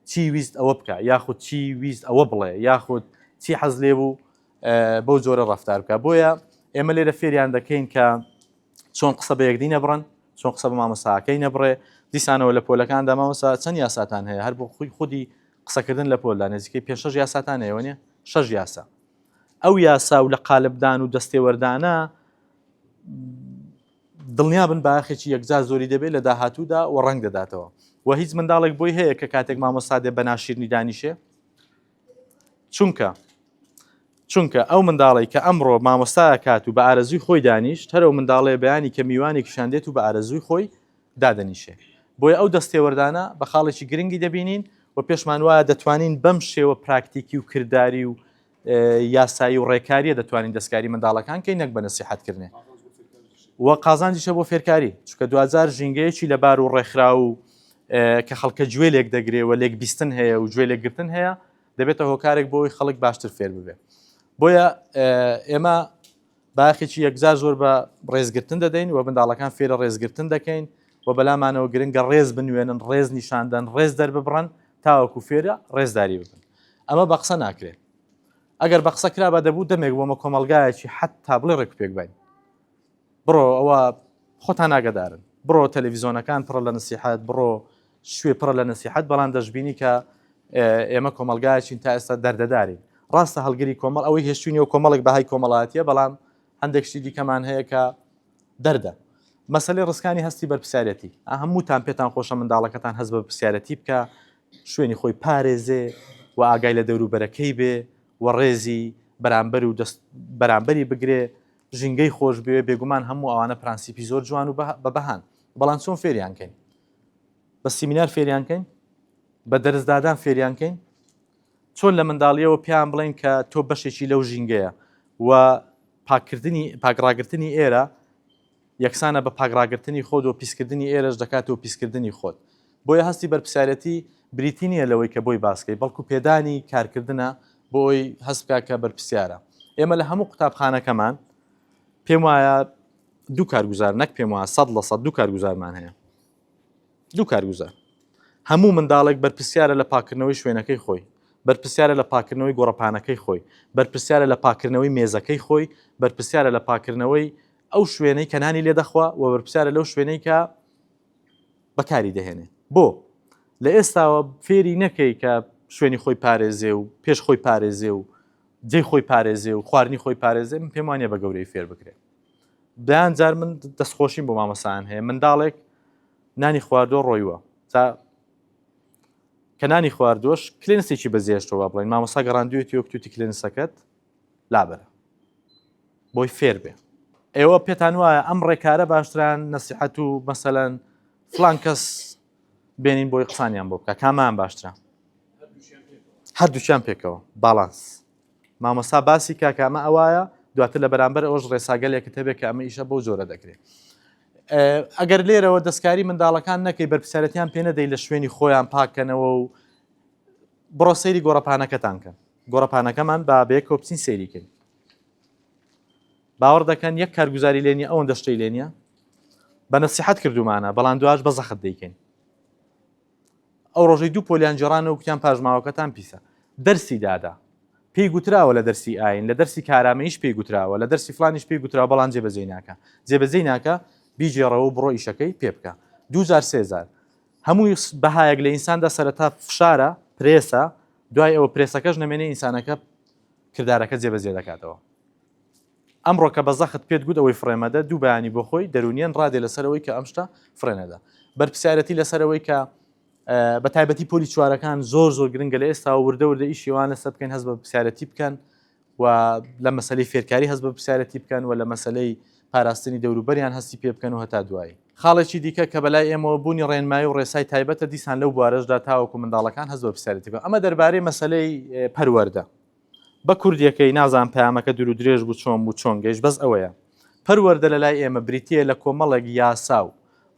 چی ویست ئەوە بکە یاخود چی ویست ئەوە بڵێ یاخود چی حەز لێ بوو بەو جۆرە ڕفتار بکە بۆیە ئێمە لێرە فێریان دەکەین کە چۆن قسە بە یەکدی نەبڕن چۆن قسە بە مامۆستاکەی نەبڕێ دیسانەوە لە پۆلەکاندا مامۆسا چەند یاساتان هەیە هەر بۆ خودی خودی قسەکردن لە پۆلدا نزیکەی پێ شەش یاساتان هەیە نیە شەش یاسا ئەو یاسا و لە قالبدان و دەستێوەردانە دڵنیا بن باخێکی یەکجار زۆری دەبێت لە داهاتوودا و ڕنگ دەداتەوە و هیچ منداڵێک بۆی هەیە کە کاتێک مامۆسادێ بە ناشیرنی دانیشێ چونکە چونکە ئەو منداڵی کە ئەمڕۆ مامۆستایە کات و بە ئارەزوی خۆی دانیشت هەرو منداڵێ بەیانی کە میوانێکیشان دێت و بە ئارەزوی خۆی دادەنیشێ بۆیە ئەو دەستێوەردانە بە خاڵێکی گرنگی دەبینین و پێشمان وایە دەتوانین بەم شێوە پراکتیکی و کردداری و یاسایی و ڕێکاریە دەتوانین دەستکاری منداڵەکان کەی نەک بە نسیحەتکردێ و قازانجیشە بۆ فێرکاری چکە دوجار ژینگەیەکی لەبار و ڕێکخرا و کە خەڵکە گوێ لێک دەگرێ و لێک بیستن هەیە و گوێ لێک گرتن هەیە دەبێتە هۆکارێک بۆی خەڵک باشتر فێر ببێ بۆیە ئێمە باخێکی یەکجار زۆر بە ڕێزگرتن دەدەین و منداڵەکان فێرە ڕێزگرتن دەکەین و بەلامانەوە گرنگە ڕێز بنوێنن ڕێز نیشاندن ڕێز دەرببڕن تاوەکو فێرە ڕێزداری ببن ئەمە بە قسە ناکرێت ئەگەر بە قسە کرا بە دەبوو دەمێک بۆمە کۆمەلگایەکی حتا بڵێ ڕێکپێک باین بڕۆ ئەوە خۆتان ئاگدارن بڕۆ تەلەڤیزۆنەکان پڕە لە نسیحات بڕۆ شوێ پڕە لە نسیحات بەڵام دەشببینی کە ئێمە کۆمەلگایچین تا ئێستا دەردەدارین ڕاستە هەڵگری کۆمەڵ ئەوەی هێشتوینی و کۆمەڵک بەهای کۆمەڵاتیە بەڵام هەندێک شتی دیکەمان هەیە کە دەردە مەسلەی ڕستکانی هەستی بەرپسیارەتی هەمووتان پێتان خۆشە منداڵەکەتان هەز بە پرسیارەتی بکە شوێنی خۆی پارێزێ و ئاگای لە دەوروبەرەکەی بێ و ڕێزی بەرامبەر و بەرامبەری بگرێ ژینگەی خۆش بوێ بێگومان هەموو ئەوانە پرانسیپی زۆر جوان و بە بەهان بەڵام چۆن فێریان کەین بە سیمینار فێریان کەین بە دەرزدادان فێریان کەین چۆن لە منداڵیەوە پێیان بڵین کە تۆ بەشێکی لەو ژینگەیە و پاکردنی پاکڕاگرتنی ئێرە یەکسانە بە پاکڕاگرتنی خۆت و پیسکردنی ئێرەش دەکات و پیسکردنی خۆت بۆیە هەستی بەرپسیارەتی بریتی نییە لەوەی کە بۆی باسکەی بەڵکو پێدانی کارکردە بۆی هەست بکات کە بەرپرسیارە. ئێمە لە هەموو قوتابخانەکەمان پێم وایە دوو کارگوزار نەک پێم وایە سەد لە سەد دوو کارگوزارمان هەیە دوو کارگوزار هەموو منداڵێک بەرپرسیارە لە پاکردنەوەی شوێنەکەی خۆی بەرپرسیارە لە پاکردنەوەی گۆڕەپانەکەی خۆی بەرپرسیارە لە پاکردنەوەی مێزەکەی خۆی بەرپرسیارە لە پاکردنەوەی ئەو شوێنەی کەنانی لێ دەخوا و بەرپسیارە لەو شوێنەی کە بەکاری دەهێنێ بۆ لە ئێستاوە فێری نەکەی کە شوێنی خۆی پارێزێ و پێش خۆی پارێزێ و جێ خۆی پارێزێ و خواردنی خۆی پارێزێ من پێم وانە بە گەورەی فێر بکرێ دایان جار من دەستخۆشیم بۆ مامەسان هەیە منداڵێک نانی خواردۆ ڕۆیوە تا کە نانی خواردۆش کلێنسێکی بەزێشتەوە بڵین مامەسا گەڕاندوێتی وەکتوتی کلێنسەکەت لابەرە بۆی فێر بێ ئێوە پێتان وایە ئەم ڕێکارە باشتران نەسیحەت و مەسەەن فلان کەس بێنین بۆی قسانیان بۆ بکە کامان باشترە هەردووچیان پێکەوە باڵانس مامەسا باسی کاکامە ئەوایە دواتر لە بەرامبەر ئەوش ڕێساگەلێکە تەبێت کە ئەمە ئیشە بۆ جۆرە دەکرێت ئەگەر لێرەوە دەستکاری منداڵەکان نەکەی بەرپسیارەتیان پێ نەدەی لە شوێنی خۆیان پاکەنەوە و بڕۆ سەیری گۆڕەپانەکەتان کەن گۆڕەپانەکەمان با بەیەکەوە بچین سەیری کەین باوەڕ دەکەن یەک کارگوزاری لێ نیە ئەوەندە شتەی لێ نیە بە نەسیحەت کردومانە بەڵام دواش بە زەخت دەیکەین ئەو ڕۆژەی دوو پۆلیان جێرانە و کوتیان پاژماوەکەتان پیسە دەرسی دادا پێی گوتراوە لە دەرسی ئاین لە دەرسی کارامەیش پێی گوتراوە لە دەرسی فلانیش پێی گوتراوە بەڵام جێبەجێی ناکە جێبەجێی ناکە بیجێڕەوە بڕۆ ئیشەکەی پێ بکە دووجار سێزار هەموو بەهایەک لە ئینساندا سەرەتا فشارە، پرێسە، دوای ئەوە پرێسەکەش نەمێنێ ئینسانەکە کردارەکە جێبەجێ دەکاتەوە. ئەمڕۆ کە بە زەخت پێت گوت ئەوەی فڕێمەدە، دوو بەیانی بۆ خۆی دەروونیەن ڕادێ لەسەر ئەوەی کە ئەم شتە فڕێنەدە. بەرپرسیارەتی لەسەر ئەوەی کە بە تایبەتی پۆلی چوارەکان زۆر زۆر گرنگە لە ئێستاوە وردە وردە ئیشی ئەوان لەسەر بکەین هەست بە پرسیارەتی بکەن و لە مەسەلەی فێرکاری هەست بە پرسیارەتی بکەن و لە مەسەلەی پاراستنی دەوروبەریان هەستی پێ بکەن و هەتا دوایی. خاڵێکی دیکە کە بەلای ئێمەوە بوونی ڕێنمایی و ڕێسای تایبەتە دیسان لەو بوارەشدا تاوەکو منداڵەکان هەست بە پرسیارەتی بکەن. ئەمە دەربارەی مەسەلەی پەروەردە. بە کوردیەکەی، نازانم پەیامەکە دوور و درێژ بوو چۆن بوو چۆن گەیشت، بەس ئەوەیە پەروەردە لە لای ئێمە بریتییە لە کۆمەڵێک یاسا و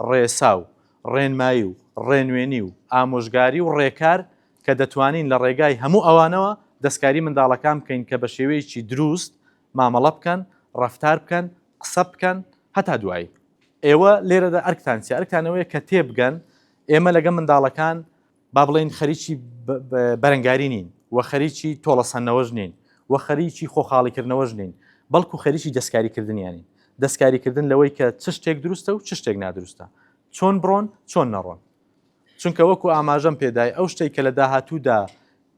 ڕێسا و ڕێنمایی و ڕێنوێنی و ئامۆژگاری و ڕێکار کە دەتوانین لە ڕێگای هەموو ئەوانەوە دەستکاری منداڵەکان بکەین کە بە شێوەیەکی دروست مامەڵە بکەن، ڕەفتار بکەن، قسە بکەن. هەتا دوایی. ئێوە لێرەدا ئەرکتان چیە؟ ئەرکتان ئەوەیە کە تێبگەن ئێمە لەگەڵ منداڵەکان با بڵێین خەریکی بەرەنگاری نین و خەریکی تۆڵەسەندنەوەش نین و خەریکی خۆخاڵیکردنەوەش نین، بەڵکو خەریکی دەستکاریکردنیانین. دەستکاریکردن لەوەی کە چ شتێک دروستە و چ شتێک نادروستە، چۆن بڕۆن، چۆن نەڕۆن. چونکە وەکو ئاماژەم پێدای ئەو شتەی کە لە داهاتوودا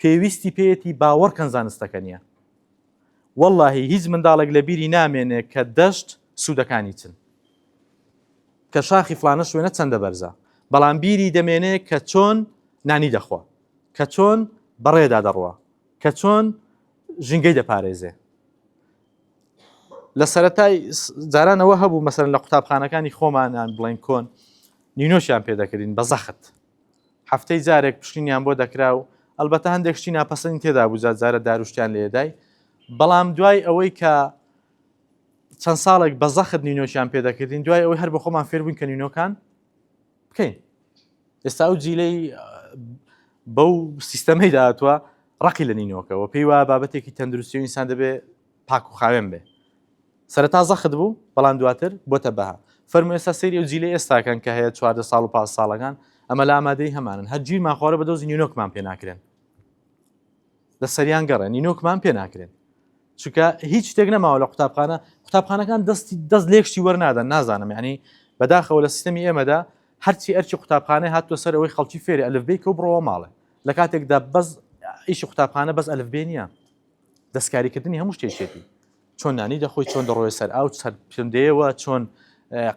پێویستی پێیەتی باوەڕکەن زانستەکە نییە واللهی هیچ منداڵێک لە بیری نامێنێ کە دەشت سوودەکانی چن کە شاخی فلانە شوێنە چەندە بەرزە بەڵام بیری دەمێنێ کە چۆن نانی دەخوا کە چۆن بەڕێدا دەڕوە کە چۆن ژینگەی دەپارێزێ لە سەرەتای جاران ئەوە هەبوو مەسەرەن لە قوتابخانەکانی خۆمانان بڵێن کۆن نینۆشیان پێ دەکردین بە زەخت هەفتەی جارێک پشتینیان بۆ دەکرا و ئەلبەتە هەندێک شتی ناپەسەنی تێدا بوو جارە داروشتیان لێدای بەڵام دوای ئەوەی کە چەند ساڵێک بە زەخت نینۆشیان پێ دەکردین دوای ئەوەی هەر بە خۆمان فێربوون کە نینۆکان بکەین ئێستا و جیلەی بەو سیستەمەی داهاتوە ڕقی لە نینۆکەەوە پێی وایە بابەتێکی تەندروستی و ئینسان دەبێ پاک و خاوێن بێ سەرتا زەخت بوو بەڵام دواتر بۆتە بەها فەرمو ئێستا سری و جیلی ئێستاکەن کە هەیە چواردە ساڵ و پاس ساڵەکان ئەمە لە ئامادەی هەمانن هەرگیرمان خوارە بە دۆزی نیونۆکمان پێ ناکرێن لە سەریان گەڕێ نینۆکمان پێ ناکرێن چونکە هیچ شتێک نەماوە لە قوتابخانە قوتابخانەکان دەستی دەست لێکشتی وەرنادەن نازانم ینی بەداخەوە لە سیستمی ئێمەدا هەرچی ئەرچی قوتابخانە هاتووە سەر ئەوەی خەڵکی فێری ئەلفبێ کە و بڕەوە ماڵێ لە کاتێکدا بەس ئیشی قوتابخانە بەس ئەلفبێ نییە دەستکاریکردنی هەموو شتێکێتی چۆن نانی دەخۆی چۆن دەڕۆی سەر ئاو سەر پندەیەوە چۆن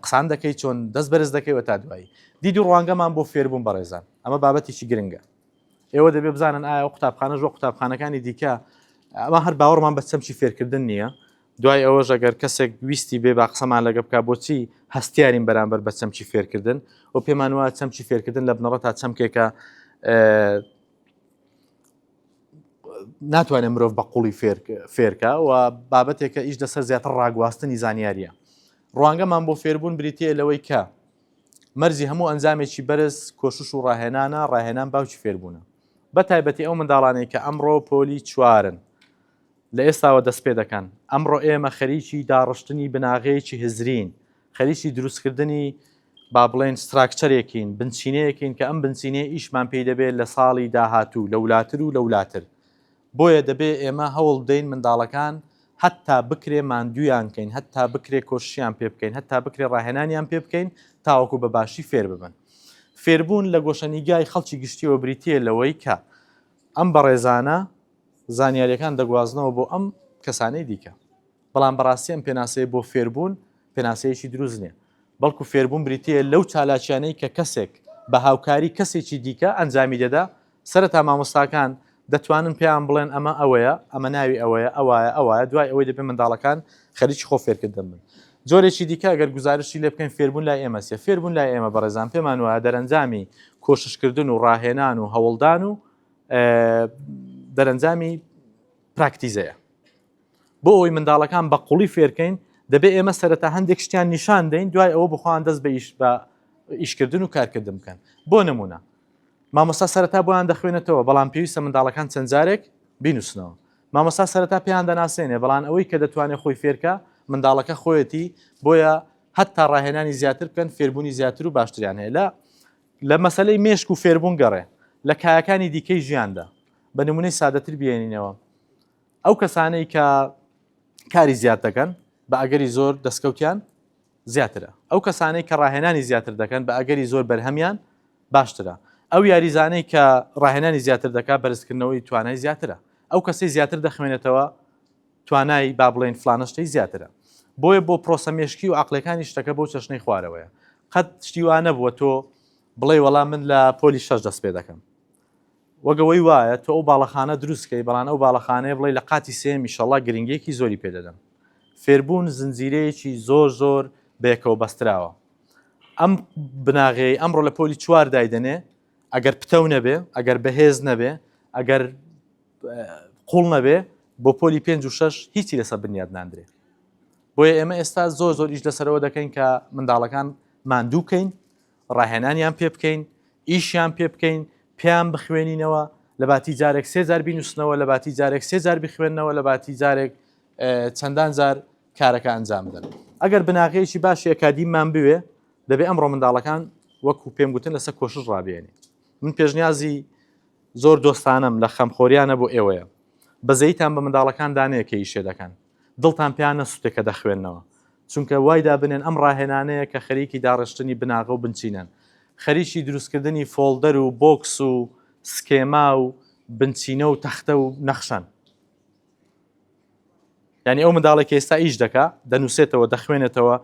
قسان دەکەی چۆن دەست بەرز دەکەیوە تا دوایی دیدی ڕوانگەمان بۆ فێربوون بەڕێزان ئەمە بابەتێکی گرنگە ئێوە دەبێ بزانن ئایا و قوتابخانەش وە قوتابخانەکانی دیکە ئەمە هەر باوەڕمان بە چەمچی فێرکردن نییە دوای ئەوە ژەگەر کەسێک ویستی بێ با قسەمان لەگە بک بۆچی هەستیارین بەرامبەر بە چەمچی فێرکردن و پێمان وایە چەمچی فێرکردن لە بنەڕە تا چەمکێکە ناتوانێت مرۆڤ بە قوڵی فێرکە و بابەتێکە ئیش دەسەر زیاتر ڕاگواستنی زانیاریە ڕوانگەمان بۆ فێربوون بریتە لەوەی کە مەرجی هەموو ئەنجامێکی بەرز کۆشش و ڕاهێنانە، ڕاهێنان باوکی فێربوونە. بە تایبەتی ئەو منداڵانەی کە ئەمڕۆ پۆلی چوارن، لە ئێستاوە دەستپێدەکەن. ئەمڕۆ ئێمە خەریکی داڕشتنی بناغەیەکی هزرین، خەریکی دروستکردنی با بڵێین ستراکچەرێکین، بنچینەیەکین کە ئەم بنچینەیە ئیشمان پێی دەبێت لە ساڵی داهاتوو، لەولاتر و لەولاتر. بۆیە دەبێ ئێمە هەوڵ بدەین منداڵەکان هەتا بکرێ ماندوویان کەین، هەتا بکرێ کۆششیان پێ بکەین، هەتا بکرێ ڕاهێنانیان پێ بکەین تاوەکو بە باشی فێر ببن. فێربوون لە گۆشەنیگای خەڵکی گشتییەوە بریتییە لەوەی کە ئەم بەڕێزانە زانیارییەکان دەگوازنەوە بۆ ئەم کەسانەی دیکە. بەڵام بەڕاستی ئەم پێناسەیە بۆ فێربوون پێناسەیەکی دروست نییە. بەڵکو فێربوون بریتییە لەو چالاکییانەی کە کەسێک بە هاوکاری کەسێکی دیکە ئەنجامی دەدا سەرەتا مامۆستاکان دەتوانن پێیان بڵێن ئەمە ئەوەیە، ئەمە ناوی ئەوەیە، ئەوایە، ئەوایە، دوای ئەوەی دەبێت منداڵەکان خەریکی خۆ فێرکردن بن. جۆرێکی دیکە ئەگەر گوزارشتی لێ بکەین فێربوون لای ئێمە چییە؟ فێربوون لای ئێمە بەڕێزان پێمان وایە دەرەنجامی کۆششکردن و ڕاهێنان و هەوڵدان و دەرەنجامی پراکتیزەیە. بۆ ئەوی منداڵەکان بە قوڵی فێرکەین دەبێت ئێمە سەرەتا هەندێک شتیان نیشان دەین دوای ئەوە بخواان دەست بە ئیش بە ئیشکردن و کارکردن بکەن بۆ نمونە مامۆستا سەرەتا بۆیان دەخوێنێتەوە بەڵام پێویستە منداڵەکان چەند جارێک بینوسنەوە. مامۆستا سەرەتا پێیان دەناسێنێ بەڵان ئەوەی کە دەتوانێ خۆی فێرکا منداڵەکە خۆیەتی بۆیە هەتا ڕاهێنانی زیاتر بکەن فێربوونی زیاتر و باشتریان هەیە لە لە مەسەلەی مێشک و فێربوون گەڕێ لە کایەکانی دیکەی ژیاندا بە نمونەی سادەتر بێنینەوە ئەو کەسانەی کە کاری زیاد دەکەن بە ئەگەری زۆر دەستکەوتیان زیاترە. ئەو کەسانەی کە ڕاهێنانی زیاتر دەکەن بە ئەگەری زۆر بەرهەمیان باشترە. ئەو یاریزانەی کە ڕاهێنانی زیاتر دەکات بەرزکردنەوەی توانای زیاترە. ئەو کەسەی زیاتر دەخوێنێتەوە توانای با بڵێین فلانە شتەی زیاترە. بۆیە بۆ پرۆسە مێشکی و عەقڵیەکانی شتەکە بەو چەشنەی خوارەوەیە. قەت شتی وا نەبووە تۆ بڵێی وەڵا من لە پۆلی شەش دەست پێ دەکەم. وەک ئەوەی وایە تۆ ئەو باڵەخانە دروست کەی بەڵام ئەو باڵەخانەیە بڵێی لە قاتی سێیەم ئیشەڵا گرنگیەکی زۆری پێ دەدەم فێربوون زنجیرەیەکی زۆر زۆر بەیەکەوە بەستراوە ئەم بناغەیە ئەمڕۆ لە پۆلی چوار دایدەنێ ئەگەر پتەو نەبێ ئەگەر بەهێز نەبێ ئەگەر قوڵ نەبێ بۆ پۆلی پێنج و شش هیچی لەسەر بنیاد ناندرێ بۆیە ئێمە ئێستا زۆر زۆر ئیش لەسەرەوە دەکەین کە منداڵەکان ماندووکەین ڕاهێنانیان پێ بکەین، ئیشیان پێ بکەین، پێیان بخوێنینەوە، لەباتی جارێک سێ جار بینووسنەوە، لەباتی جارێک سێ جار بخوێنەوە، لەباتی جارێک چەندان جار کارەکە ئەنجام بدەن. ئەگەر بناغەیەکی باشی ئەکادیممان بوێ، دەبێ ئەمڕۆ منداڵەکان وەکو پێم گوتن لەسەر کۆشش ڕابێنێ. من پێشنیازی زۆر دۆستانەم لە خەمخۆریانە بۆ ئێوەیە، بەزەییتان بە منداڵەکان دانێ کە ئیشێ دەکەن. دڵتان پیا نەسوتێ کە دەخوێننەوە، چونکە وای دابنێن ئەم ڕاهێنانەیە کە خەریکی داڕشتنی بناغە و بنچینەن، خەریکی دروستکردنی فۆڵدەر و بۆکس و سکێما و بنچینە و تەختە و نەخشەن. یانی ئەو منداڵەی کە ئێستا ئیش دەکا، دەنووسێتەوە، دەخوێنێتەوە،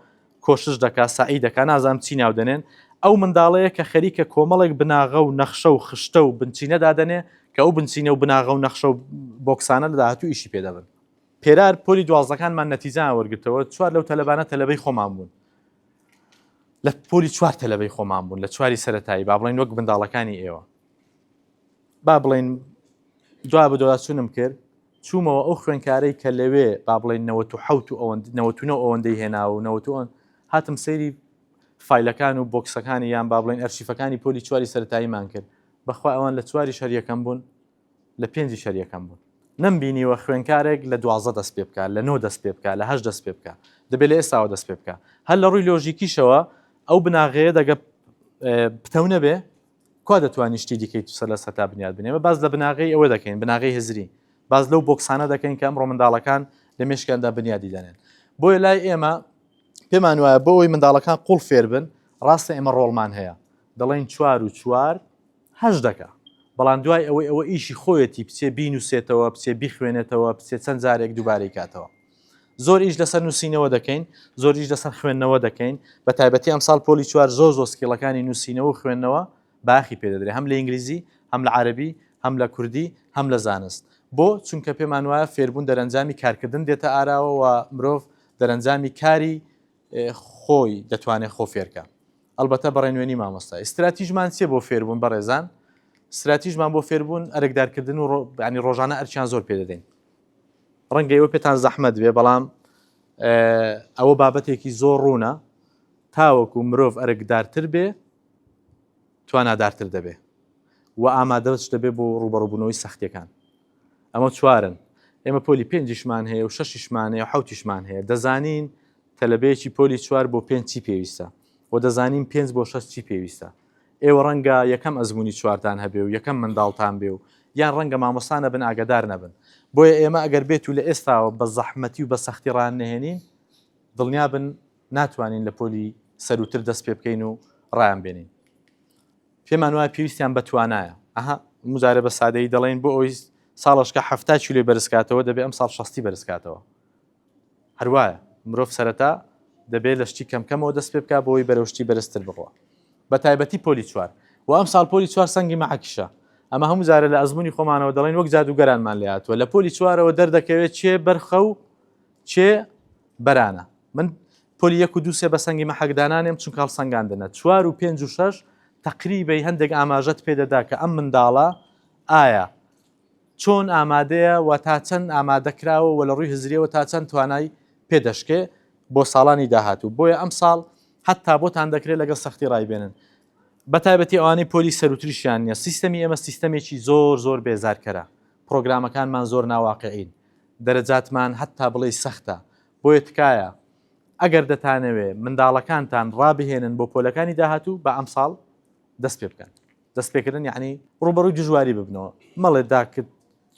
کۆشش دەکا، سەعی دەکا، نازانم چی ناو دەنێن، ئەو منداڵەیە کە خەریکە کۆمەڵێک بناغە و نەخشە و خشتە و بنچینە دادەنێ کە ئەو بنچینە و بناغە و نەخشە و بۆکسانە لە داهاتوو ئیشی پێ دەبن. پێرار، پۆلی دوازدەکانمان نەتیجەیان وەرگرتەوە، چوار لەو تەلەبانە تەلەبەی خۆمان بوون، لە پۆلی چوار تەلەبەی خۆمان بوون لە چواری سەرەتایی، با بڵێین وەک منداڵەکانی ئێوە. با بڵێین دوا بە دواچوونم کرد، چوومەوە ئەو خوێندکارەی کە لەوێ با بڵێین نەوەت و حەوت و ئەوەند نەوەت و نۆ ئەوەندەی هێناوە و نەوەت و ئەوەند، هاتم سەیری فایلەکان و بۆکسەکانی یان با بڵێین ئەرشیفەکانی پۆلی چواری سەرەتاییمان کرد، بەخوا ئەوان لە چواریش هەر یەکەم بوون. لە پێنجی شەر یەکەم بوون نەم بینیوە خوێنکارێک لە دوازدە دەست پێ بکا لە نۆ دەست پێ بکا لە هەشت دەست پێ بکا دەبێ لە ئێستاوە دەست پێ بکا هەر لە ڕووی لۆژیکیشەوە ئەو بناغەیە دەگە پتەو نەبێ کوا دەتوانانی شتی دیکەی تو سەر لە سەتا بنیاد بنێمە باز لە بناغی ئەوە دەکەین بناغی هزری باز لەو بۆکسانە دەکەین کە ئەمڕۆ منداڵەکان لە مشکاندا بنیادی دەنێن بۆیە لای ئێمە پێمان وایە بۆ ئەوی منداڵەکان قوڵ فێربن ڕاستە ئێمە ڕۆڵمان هەیە دەڵێن چوار و چوار هەست دەکا بەڵام دوای ئەوەی ئەوە ئیشی خۆیەتی بچێ بینوسێتەوە بچێ بیخوێنێتەوە بچێ چەند جارێک دوبارەی کاتەوە زۆر ئیش لەسەر نوسینەوە دەکەین زۆر ئیش لەسەر خوێندنەوە دەکەین بە تایبەتی ئەم ساڵ پۆلی چوار زۆر زۆر سکیڵەکانی نوسینەوە و خوێندنەوە باخی پێ دەدرێ هەم لە ئینگلیزی هەم لە عەرەبی هەم لە کوردی هەم لە زانست بۆ چونکە پێمان وایە فێربوون دەرەنجامی کارکردن دێتە ئاراوە و مرۆڤ دەرەنجامی کاری خۆی دەتوانێت خۆ فێرکە ئەلبەتە بەڕێ نوێنی مامۆستا ئیستراتیژمان چێ بۆ فێربوون بەڕێزان استراتیژمان بۆ فێربوون ئەرکدارکردن و ڕۆبانی ڕۆژانە ئەرچیان زۆر پێ دەدەین ڕەنگە ئەوە پێتان زەحمەت بێ بەڵام ئەوە بابەتێکی زۆر ڕوونە تاوەکو مرۆڤ ئەرکدارتر بێ توانادارتر دەبێ و ئامادەش دەبێ بۆ ڕوبەڕبوونەوەی سەختەکان ئەمە چوارن ئێمە پۆلی پێنجیشمان هەیە و شەشیشمان هەیە و حەوتیشمان هەیە دەزانین تەلەبەیەکی پۆلی چوار بۆ پێنج چی پێویستە و دەزانین پێنج بۆ شەش چی پێویستە ئێوە ڕەنگە یەکەم ئەزمموی چوارتان هەبێ و یەکەم منداڵتان بێ و یان ڕەنگە مامۆستانە بن ئاگدار نەبن بۆیە ئێمە ئەگەر بێت و لە ئێستاوە بە زەحمەتی و بە سەختی ڕان نهێنین دڵنیا بن ناتوانین لە پۆلی سەروتر دەست پێ بکەین و ڕایان بێنین پێمان وایە پێویستیان بە توانایە. ئەها مجارێ بە سادەیی دەڵێین بۆ ئەوی ساڵەشکە حەفتا کیلۆی بەرزکاتەوە دەبێ ئەم ساڵ شەستی بەرزکاتەوە. هەروایە مرۆڤ سەرەتا دەبێت لە شتی کەمکەمەوە دەست پێ بکە بۆی بەرەشتی بەرزتر بڕوە بە تایبەتی پۆلی چوار و ئەم ساڵ پۆلی چوار سەنگی مەعکیشە ئەمە هەموو جارە لە ئەزمموی خۆمانەوە دەڵێن وەک جادوگەرانمان لاتوە لە پۆلی چوارەوە دەردەکەوێت چێ بەرخە و چێ بەرانە من پۆلی یەک و دوو سێ بە سەنگی مەحەکدا نانێم چونکە هەڵسەنگاندنە چوار و پێنج و شەش تەقریبەی هەندێک ئاماژەت پێ دەدا کە ئەم منداڵە ئایا چۆن ئامادەیە و تا چەند ئامادەکراوە و لە ڕووی هزریەوە تا چەند توانای پێدەشکێ بۆ ساڵانی داهاتوو بۆیە ئەم ساڵ حتا بۆتان دەکرێت لەگەڵ سەختی ڕایبێنن بەتایبەتی ئەوانی پۆلی سەروتریشیان نیە سیستەمی ئێمە سیستەمێکی زۆر زۆر بێزارکەرە پرۆگرامەکانمان زۆر ناواقعین دەرەجاتمان حتا بڵێ سەختە بۆیە تکایە ئەگەر دەتانەوێ منداڵەکانتان ڕابهێنن بۆ پۆلەکانی داهاتوو با ئەمساڵ دەست پێ بکەن دەست پێکردن یعنی ڕوبەڕووی دژواری ببنەوە مەڵێ داکت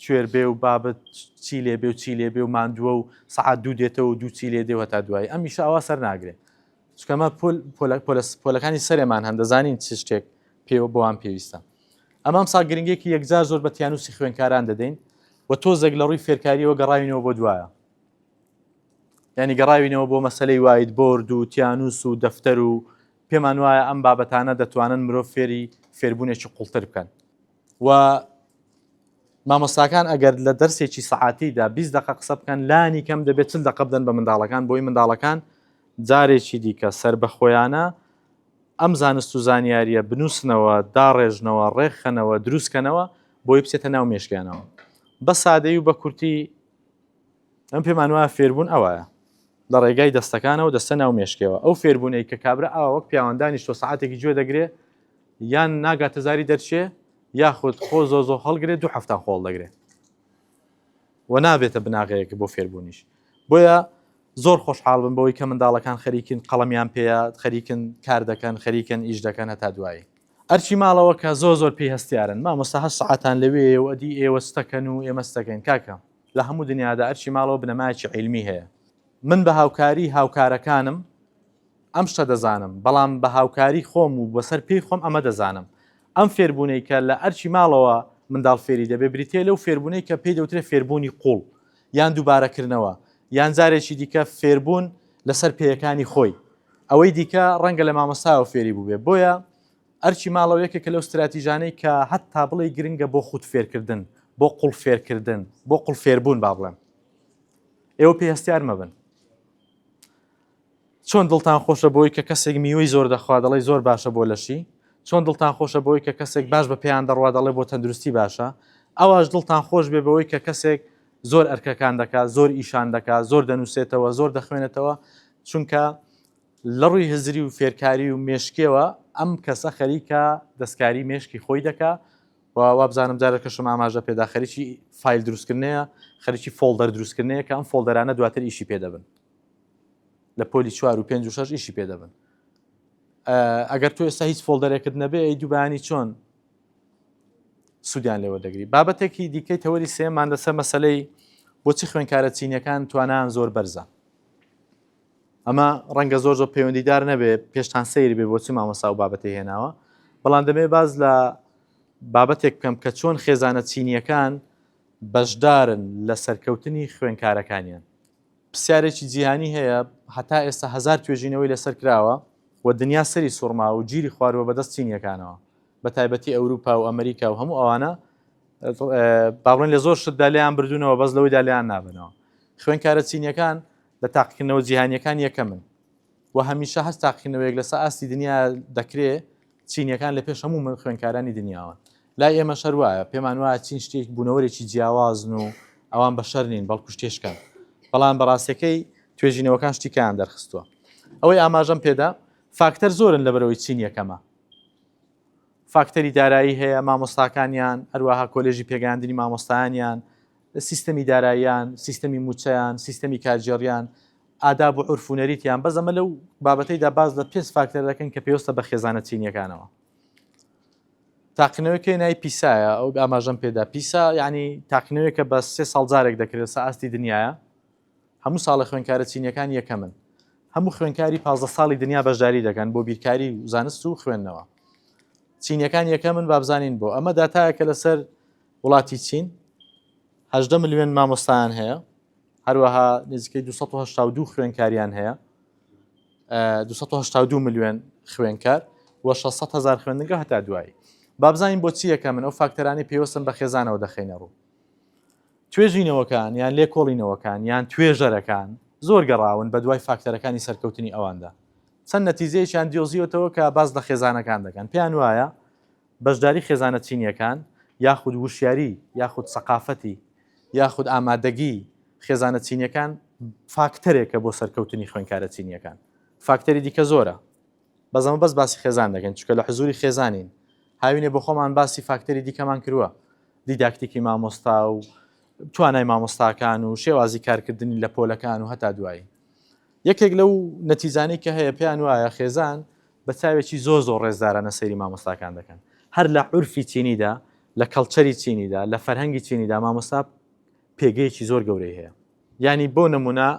کوێر بێ و بابت چی لێ بێ و چی لێ بێ و ماندووە و سەعات دوو دێتەوە و دوو چی لێ دێ هەتا دوایی ئەم ئیشە ئەوا سەر ناگرێ چکەمە پۆل پۆلە پۆلە پۆلەکانی سەرێمان هەن دەزانین چ شتێک پێوە بۆوان پێویستە ئەمام سا گرنگێکی یەکجار زۆر بە تیانوسی خوێنکاران دەدەین و تۆزێک لە ڕووی فێرکاریەوە گەڕاوینەوە بۆ دوایە یانی گەڕاوینەوە بۆ مەسەلەی وایت بۆرد و تیانوس و دەفتەر و پێمان وایە ئەم بابەتانە دەتوانن مرۆڤ فێری فێربوونێکی قوڵتر بکەن و مامۆستاکان ئەگەر لە دەرسێکی سەعاتیدا 20 دقە قسە بکەن لانی کەم دەبێت چل دقە بدەن بە منداڵەکان بۆی منداڵەکان جارێکی دیکە سەر بەخۆیانە ئەم زانست و زانیاریە بنووسنەوە داڕێژنەوە ڕێکخەنەوە دروستکەنەوە بۆی بچێتە ناو مێشکیانەوە بە سادەی و بە کورتی من پێمان وایە فێربوون ئەوایە لە ڕێگای دەستەکانەوە دەستە ناو مێشکەوە ئەو فێربوونەی کە کابرا ئاوا وەک پیاوەندانیش تۆ سعاتێکی گوێ دەگرێ یان ناگاتە زاری دەرچێ یاخود خۆ زۆ زۆ هەڵگرێت دو هەفتان خۆڵ دەگرێت و نابێتە بناغەیەکە بۆ فێربوونیش بۆیە زۆر خۆشحاڵ بن بەوەی کە منداڵەکان خەریکن قەڵەمیان پێەیە خەریکن کار دەکەن خەریکن ئیش دەکەن هەتا دوایی ئەرکی ماڵەوە کە زۆر زۆر پێی هەستیارن مامۆستا هەشت سەعاتان لەوێیە و ئەدی ئێوە چتەکەن و ئێمە چتەکەین کاکە لە هەموو دنیادا ئەرکی ماڵەوە بنەمایەکی عیلمی هەیە من بە هاوکاری هاوکارەکانم ئەم شتە دەزانم بەڵام بە هاوکاری خۆم و بەسەر پێی خۆم ئەمە دەزانم ئەم فێربوونەی کە لە ئەرکی ماڵەوە منداڵ فێری دەبێ بریتیە لەو فێربوونەی کە پێی دەوترێ فێربوونی قوڵ یان دووبارەکردنەوە، یان جارێکی دیکە فێربوون لەسەر پێیەکانی خۆی. ئەوەی دیکە ڕەنگە لە مامۆستایەوە فێری بووبێ. بۆیە ئەرکی ماڵەوە یەکێکە لەو ستراتیژانەی کە هەتا بڵێی گرنگە بۆ خوود فێرکردن، بۆ قوڵ فێرکردن، بۆ قوڵ فێربوون با بڵێم. ئێوە پێی هەستیار مەبن. چۆن دڵتان خۆشە بەوەی کە کەسێک میوەی زۆر دەخوا دەڵێی زۆر باشە بۆ لەشی؟ چۆن دڵتان خۆشە بەوەی کە کەسێک باش بە پێیان دەڕوا دەڵێ بۆ تەندروستی باشە؟ ئەواش دڵتان خۆش بێ بەوەی کە کەسێک زۆر ئەرکەکان دەکا، زۆر ئیشان دەکا، زۆر دەنووسێتەوە، زۆر دەخوێنێتەوە، چونکە لە ڕووی هزری و فێرکاری و مێشکیەوە ئەم کەسە خەریکە دەستکاری مێشکی خۆی دەکا و وابزانم جارەکەشم ئاماژە پێدا خەریکی فیل دروستکردنەیە، خەریکی فۆڵدەر دروستکردنەیە کە ئەم فۆڵدەرانە دواتر ئیشی پێ دەبن. لە پۆلی چوار و پێنج و شش ئیشی پێ دەبن ئەگەر تو ئێستا هیچ فۆلدەرێکت نەبێ ئەی دووبانی چۆن سوودیان لێوە دەگری بابەتێکی دیکەی تەوەری سێمان لەسەر مەسلەی بۆچی خوێنکارە چینەکان توانان زۆر بەرزە ئەمە ڕەنگە زۆر زۆر پەیوەندیدار نەبێ پێشتان سیر بێ بۆچی مامەسا و بابەتی هێناوە بەڵام دەبێ باز لە بابەتێک بکەم کە چۆن خێزانە چینیەکان بەشدارن لە سەرکەوتنی خوێنکارەکانیان پرسیارێکی جیهانی هەیە، هەتا ئێستا هەزار توێژینەوەی لەسەر کراوە و دنیا سەری سوڕماوە و گیری خواروە بەدەست چینیەکانەوە بە تایبەتی ئەوروپا و ئەمریکا و هەموو ئەوانە با بڵێن لە زۆر شتدا لێیان بردوونەوە بەس لەوەیدا لێیان نابنەوە خوێنکارە چینیەکان لە تاقیکردنەوە جیهانیەکان یەکەمن و هەمیشە هەست تاقیکردنەوەیەک لەسە ئاستی دنیا دەکرێ چینیەکان لە پێش هەموو خوێنکارانی دنیاوەن. لای ئێمەش هەر وایە. پێمان وایە چین شتێک، بوونەوەرێکی جیاوازن و ئەوان بەشەر نین، بەڵکو شتێشکان. بەڵام بە ڕاستیەکەی توێژینەوەکان شتی کەیان دەرخستووە. ئەوەی ئاماژەم پێدا، فاکتەر زۆرن لەبەرئەوەی چین یەکەمە. فاکتەری دارایی هەیە، مامۆستاکانیان، هەروەها کۆلێژی پێگەیاندنی مامۆستایانیان، سیستەمی داراییان، سیستەمی مووچەیان، سیستەمی کارگێڕییان، ئاداب و عورف و نەریتیان، بەس ئەمە لەو بابەتەیدا باس لە پێنج فاکتەر دەکەین کە پێوستە بە خێزانە چینییەکانەوە. تاقینەوەی کەی ناوی پیسایە ئەو ئاماژەم پێدا پیسا یعنی تاقینەوەیەکە بە سێ ساڵ جارێک دەکرێت سە ئاستی دنیاە هەموو ساڵە خوێنکارە چینیەکان یەکەمن هەموو خوێنکاری پازدە ساڵی دنیا بەشداری دەکەن بۆ بیرکاری و زانست و خوێندنەوە چینەکان یەکەمن بابزانین بۆ ئەمە داتایەکە لەسەر وڵاتی چین هەژدە ملیۆن مامۆستایان هەیە هەروەها نزیکەی 1970 خوێنکاریان هەیە 1970 ملیۆن خوێنکار و 600 هزار خوێندنگە هەتا دوایی بابزانین بۆچی یەکە من ئەو فاکتەرانی پێوەستن بە خێزانەوە دەخینە ڕوو توێژینەوەکان یان لێکۆڵینەوەکان یان توێژەرەکان زۆر گەڕاون بە دوای فاکتەرەکانی سەرکەوتنی ئەواندا چەند نەتیزەیەکیان دیۆزیەتەوە کە باز لە خێزانەکان دەکەن پێیان وایە بەشداری خێزانە چینییەکان یاخود وشیاری یاخود سەقافەتی یاخود ئامادەگی خێزانە چینییەکان فاکتەرێکە بۆ سەرکەوتنی خوێنکارە چینییەکان فاکتەری دیکە زۆرە بەس ئەمە بەس باسی خێزان دەکەین چونکە لە حزوری خێزانین هاوینێ بۆ خۆمان باسی فاکتەری دیکەمان کرووە دیداکتیکی مامۆستا و توانای مامۆستاکان و شێوازی کارکردنی لە پۆلەکان و هەتا دوایی یەکێک لەو نەتیزانەی کە هەیە پێیان وایە خێزان بە چاوێکی زۆر زۆر ڕێزدارانە سەیری مامۆستاکان دەکەن هەر لە عورفی چینیدا لە کەڵچەری چینیدا لە فەرهەنگی چینیدا مامۆستا پێگەیەکی زۆر گەورەی هەیە ینی بۆ نمونە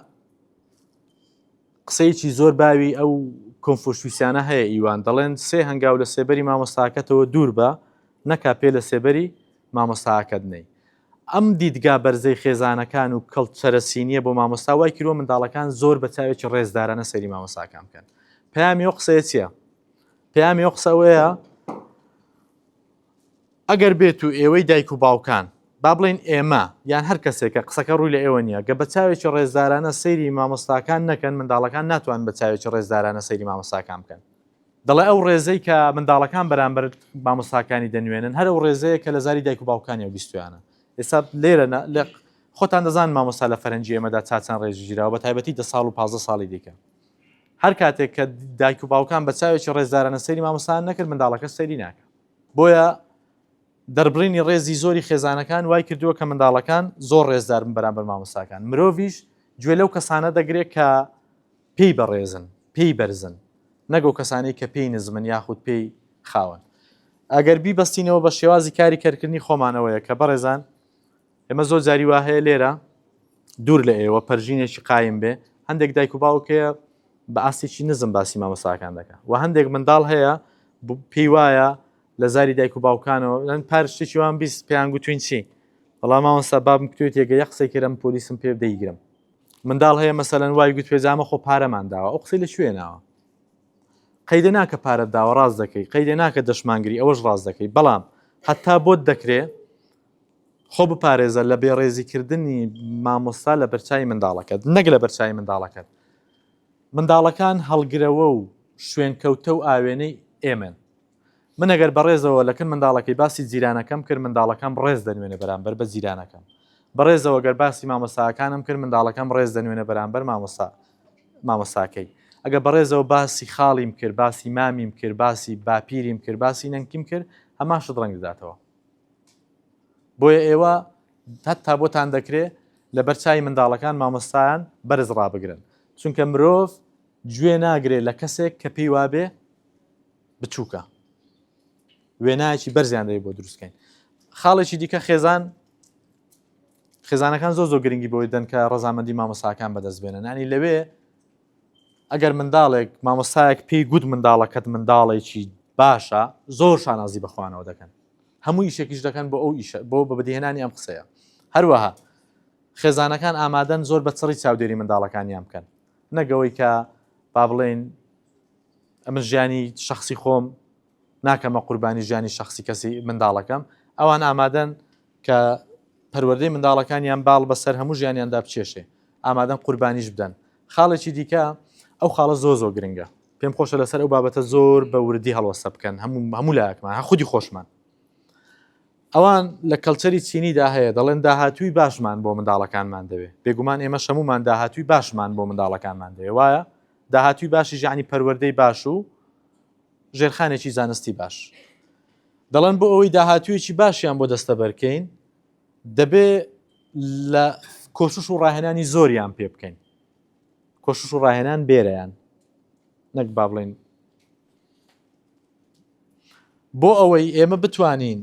قسەیەکی زۆر باوی ئەو کۆنفۆشویسیانە هەیە ئیوان دەڵێن سێ هەنگاو لە سێبەری مامۆستاکەتەوە دوور بە نەکا پێ لە سێبەری مامۆستاکەت نەی ئەم دیدگا بەرزەی خێزانەکان و کەڵچەرە سینیە بۆ مامۆستا وای کردوە منداڵەکان زۆر بە چاوێکی ڕێزدارانە سەیری مامۆستاکان بکەن. پەیامی ئەو قسەیە چیە؟ پەیامی ئەو قسە ئەوەیە ئەگەر بێت و ئێوەی دایک و باوکان با بڵین ئێمە یان هەر کەسێکە قسەکە ڕووی لە ئێوە نیە گە بە چاوێکی ڕێزدارانە سەیری مامۆستاکان نەکەن منداڵەکان ناتوان بە چاوێکی ڕێزدارانە سەیری مامۆستاکان بکەن دەڵێ ئەو ڕێزەی کە منداڵەکان بەرامبەر مامۆستاکانی دەنوێنن هەر ئەو ڕێزەیە کە لە زاری دایک و باوکانیان بیستویانە ئێستا لێرە لە خۆتان دەزان مامۆستا لە فەرەنجی ئێمەدا چاچان ڕێژی ژیراوە بە تایبەتی دە ساڵ و پازە ساڵی دیکە هەر کاتێک کە دایک و باوکان بە چاوێکی ڕێزدارانە سەری مامۆستان نەکرد منداڵەکە سەری ناکە بۆیە دەربڕینی ڕێزی زۆری خێزانەکان وای کردووە کە منداڵەکان زۆر ڕێزدارن بەرامبەر مامۆستاکان مرۆڤش گوێ لەو کەسانە دەگرێت کە پێی بەڕێزن، پێی بەرزن، نەک ئەو کەسانەی کە پێی نزمن یاخود پێی خاون. ئەگەر بیبەستینەوە بە شێوازی کاری کەرکردنی خۆمانەوەیە کە بەڕێزان ئێمە زۆر جاری وا هەیە لێرە دوور لە ئێوە پەرژینێکی قایم بێ هەندێک دایک و باوک هەیە بە ئاستێکی نزم باسی مامەساکان دەکە و هەندێک منداڵ هەیە پێی وایە لە زاری دایک و باوکانەوە لەن پارشتێکی وان بیست پێیان گوتوین چی بەڵام ماوەستا بابم کوێت یەگە یە قسەی کرم پۆلیسم پێ دەیگرم منداڵ هەیە مەسەلەن وای گوت پێجامە خۆ پارەمان داوە ئەو قسەی لە کوێ ناوە قەیدە ناکە پارەت داوە ڕاست دەکەی قەیدە ناکە دەشمانگری ئەوەش ڕاست دەکەی بەڵام حتا بۆت دەکرێ خۆ بپارێزە لە بێڕێزیکردنی مامۆستا لە بەرچوی منداڵەکەت نەک لە بەرچوی منداڵەکەت منداڵەکان هەڵگرەوە و شوێنکەوتە و ئاوێنەی ئێمن من ئەگەر بەڕێزەوە لەکن منداڵەکەی باسی جیرانەکەم کرد منداڵەکەم ڕێز دەنوێنێ بەرامبەر بە جیرانەکەم بەڕێزەوە گەر باسی مامۆستاکانم کرد منداڵەکەم ڕێز دەنوێنێ بەرامبەر مامۆستا مامۆستاکەی ئەگە بەڕێزەوە باسی خاڵیم کرد باسی مامیم کرد باسی باپیریم کرد باسی نەنکیم کرد هەمان شت ڕەنگ دەداتەوە بۆیە ئێوە هەتا بۆتان دەکرێ لە بەرچوی منداڵەکان مامۆستایان بەرز ڕابگرن چونکە مرۆڤ گوێ ناگرێت لە کەسێک کە پێی وابێ بچووکە وێنایەکی بەرزیان دەوێت بۆ دروستکەین خاڵێکی دیکە خێزان خێزانەکان زۆ زۆ گرنگی بۆی دەن کە ڕزامەندی مامۆساکان بەدەست بێنن ینی لەوێ ئەگەر منداڵێک مامۆسایەک پێی گوت منداڵەکەت منداڵێکی باشە زۆر شانازی بەخوانەوە دەکەن هەموو یشێکیش دەکەن بۆ ئەو ئیشە بۆ بە بدیهێنانی ئەم قسەیە هەروەها خێزانەکان ئامادەن زۆر بە چڕی چاودێری منداڵەکانیان بکەن نەگەوەی کە با بڵێن ئەمن ژیانی شخصی خۆم ناکەمە قوربانی ژیانی شخصی کەسی منداڵەکەم ئەوان ئامادەن کە پەروەردەی منداڵەکانیان باڵ بەسەر هەموو ژیانیاندا بچێشێ ئامادەن قوربانیش بدەن خاڵێکی دیکە ئەو خاڵە زۆ زۆ گرنگە پێم خۆشە لەسەر ئەو بابەتە زۆر بە وردی هەڵوەسە بکەن هەموو هەموو لاکمان هە خودی خۆشمان ئەوان لە کەلچەری چینیدا هەیە دەڵێن داهاتووی باشمان بۆ منداڵەکانمان دەوێت بێگومان ئێمە شەمومان داهاتووی باشمان بۆ منداڵەکانمان دەوێت وایە داهاتووی باشیش یەعنی پەروەردەی باش و ژێرخانێکی زانستی باش. دەڵێن بۆ ئەوەی داهاتوویەکی باشیان بۆ دەستەبەرکەین، دەبێ لە کۆشش و ڕاهێنانی زۆریان پێ بکەین. کۆشش و ڕاهێنان بێرەیان نەک با بڵین بۆ ئەوەی ئێمە بتوانین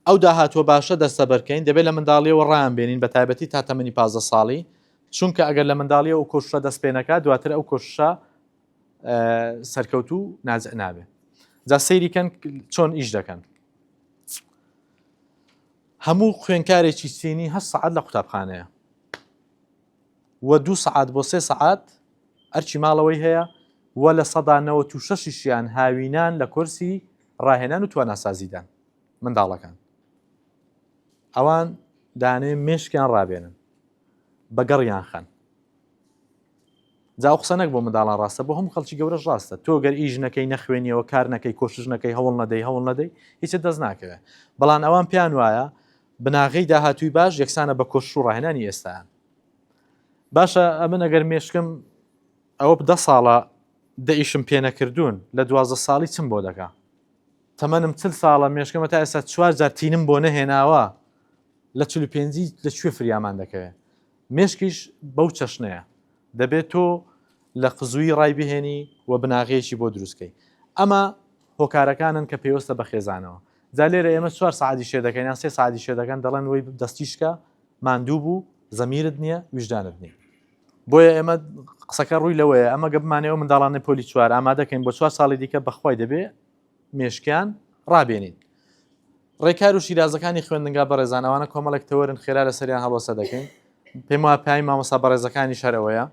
ئەو داهاتووە باشە دەستەبەرکەین، دەبێت لە منداڵییەوە ڕایانبێنین، بەتایبەتی تا تەمەنی پازدە ساڵی، چونکە ئەگەر لە منداڵییەوە ئەو کۆششە دەست پێ نەکات، دواتر ئەو کۆششە سەرکەوتوو و ناجح نابێت. جا سەیری کەن چۆن ئیش دەکەن. هەموو خوێنکارێکی چینی هەشت سەعات لە قوتابخانەیە و دوو سەعات بۆ سێ سەعات ئەرچی ماڵەوەی هەیە و لە سەدا نەوەت و شەشیشیان هاوینان لە کۆرسی ڕاهێنان و تواناسازیدان. منداڵەکان ئەوان دانێ مێشکیان ڕابێنن بە گەڕیان خەن جاو قسە نەک بۆ منداڵان ڕاستە بۆ هەم خەڵکی گەورەش ڕاستە تۆ گەر ئیش نەکەی نەخوێنیەوە کار نەکەی کۆشش نەکەی هەوڵ نەدەی هەوڵ نەدەی هیچ دەست ناکەوێت بەڵام ئەوان پێیان وایە بناغی داهاتووی باش یەکسانە بە کۆش و ڕاهێنانی ئێستان باشە ئەمن ئەگەر مێشکم ئەوە بدە ساڵە دەئیشم پێنەکردوون لە دوازە ساڵی چم بۆ دەکا تەمەنم چل ساڵە مێشکمە تا ئێستا چوار جار تینم بۆ نەهێناوە لە چل و پێنجی لە کوێ فریامان دەکەوێ مێشکیش بەو چەشنەیە دەبێت تۆ لە قزووی ڕای بهێنی و بناغەیەکی بۆ دروستکەی ئەمە هۆکارەکانن کە پێوەستە بە خێزانەوە جا لێرە ئێمە چوار سعادی شێ دەکەین یان سێ سعادی شێ دەکەن دەڵێن وی دەستیشکە ماندوو بوو زەمیرت نییە ویژدانت نییە بۆیە ئێمە قسەکە ڕووی لەوەیە ئەمە گە بمانەوە منداڵانە پۆلی چوار ئامادەکەین بۆ چوار ساڵی دیکە بەخوای دەبێ مێشکیان ڕابێنین. ڕێکار و شیرازەکانی خوێندنگا بەڕێزان ئەوانە کۆمەڵێک تەوەرن خێرا لەسەریان هەڵۆسە دەکەین پێم وایە پەیامی مامۆستا بەڕێزەکانیش هەر ئەوەیە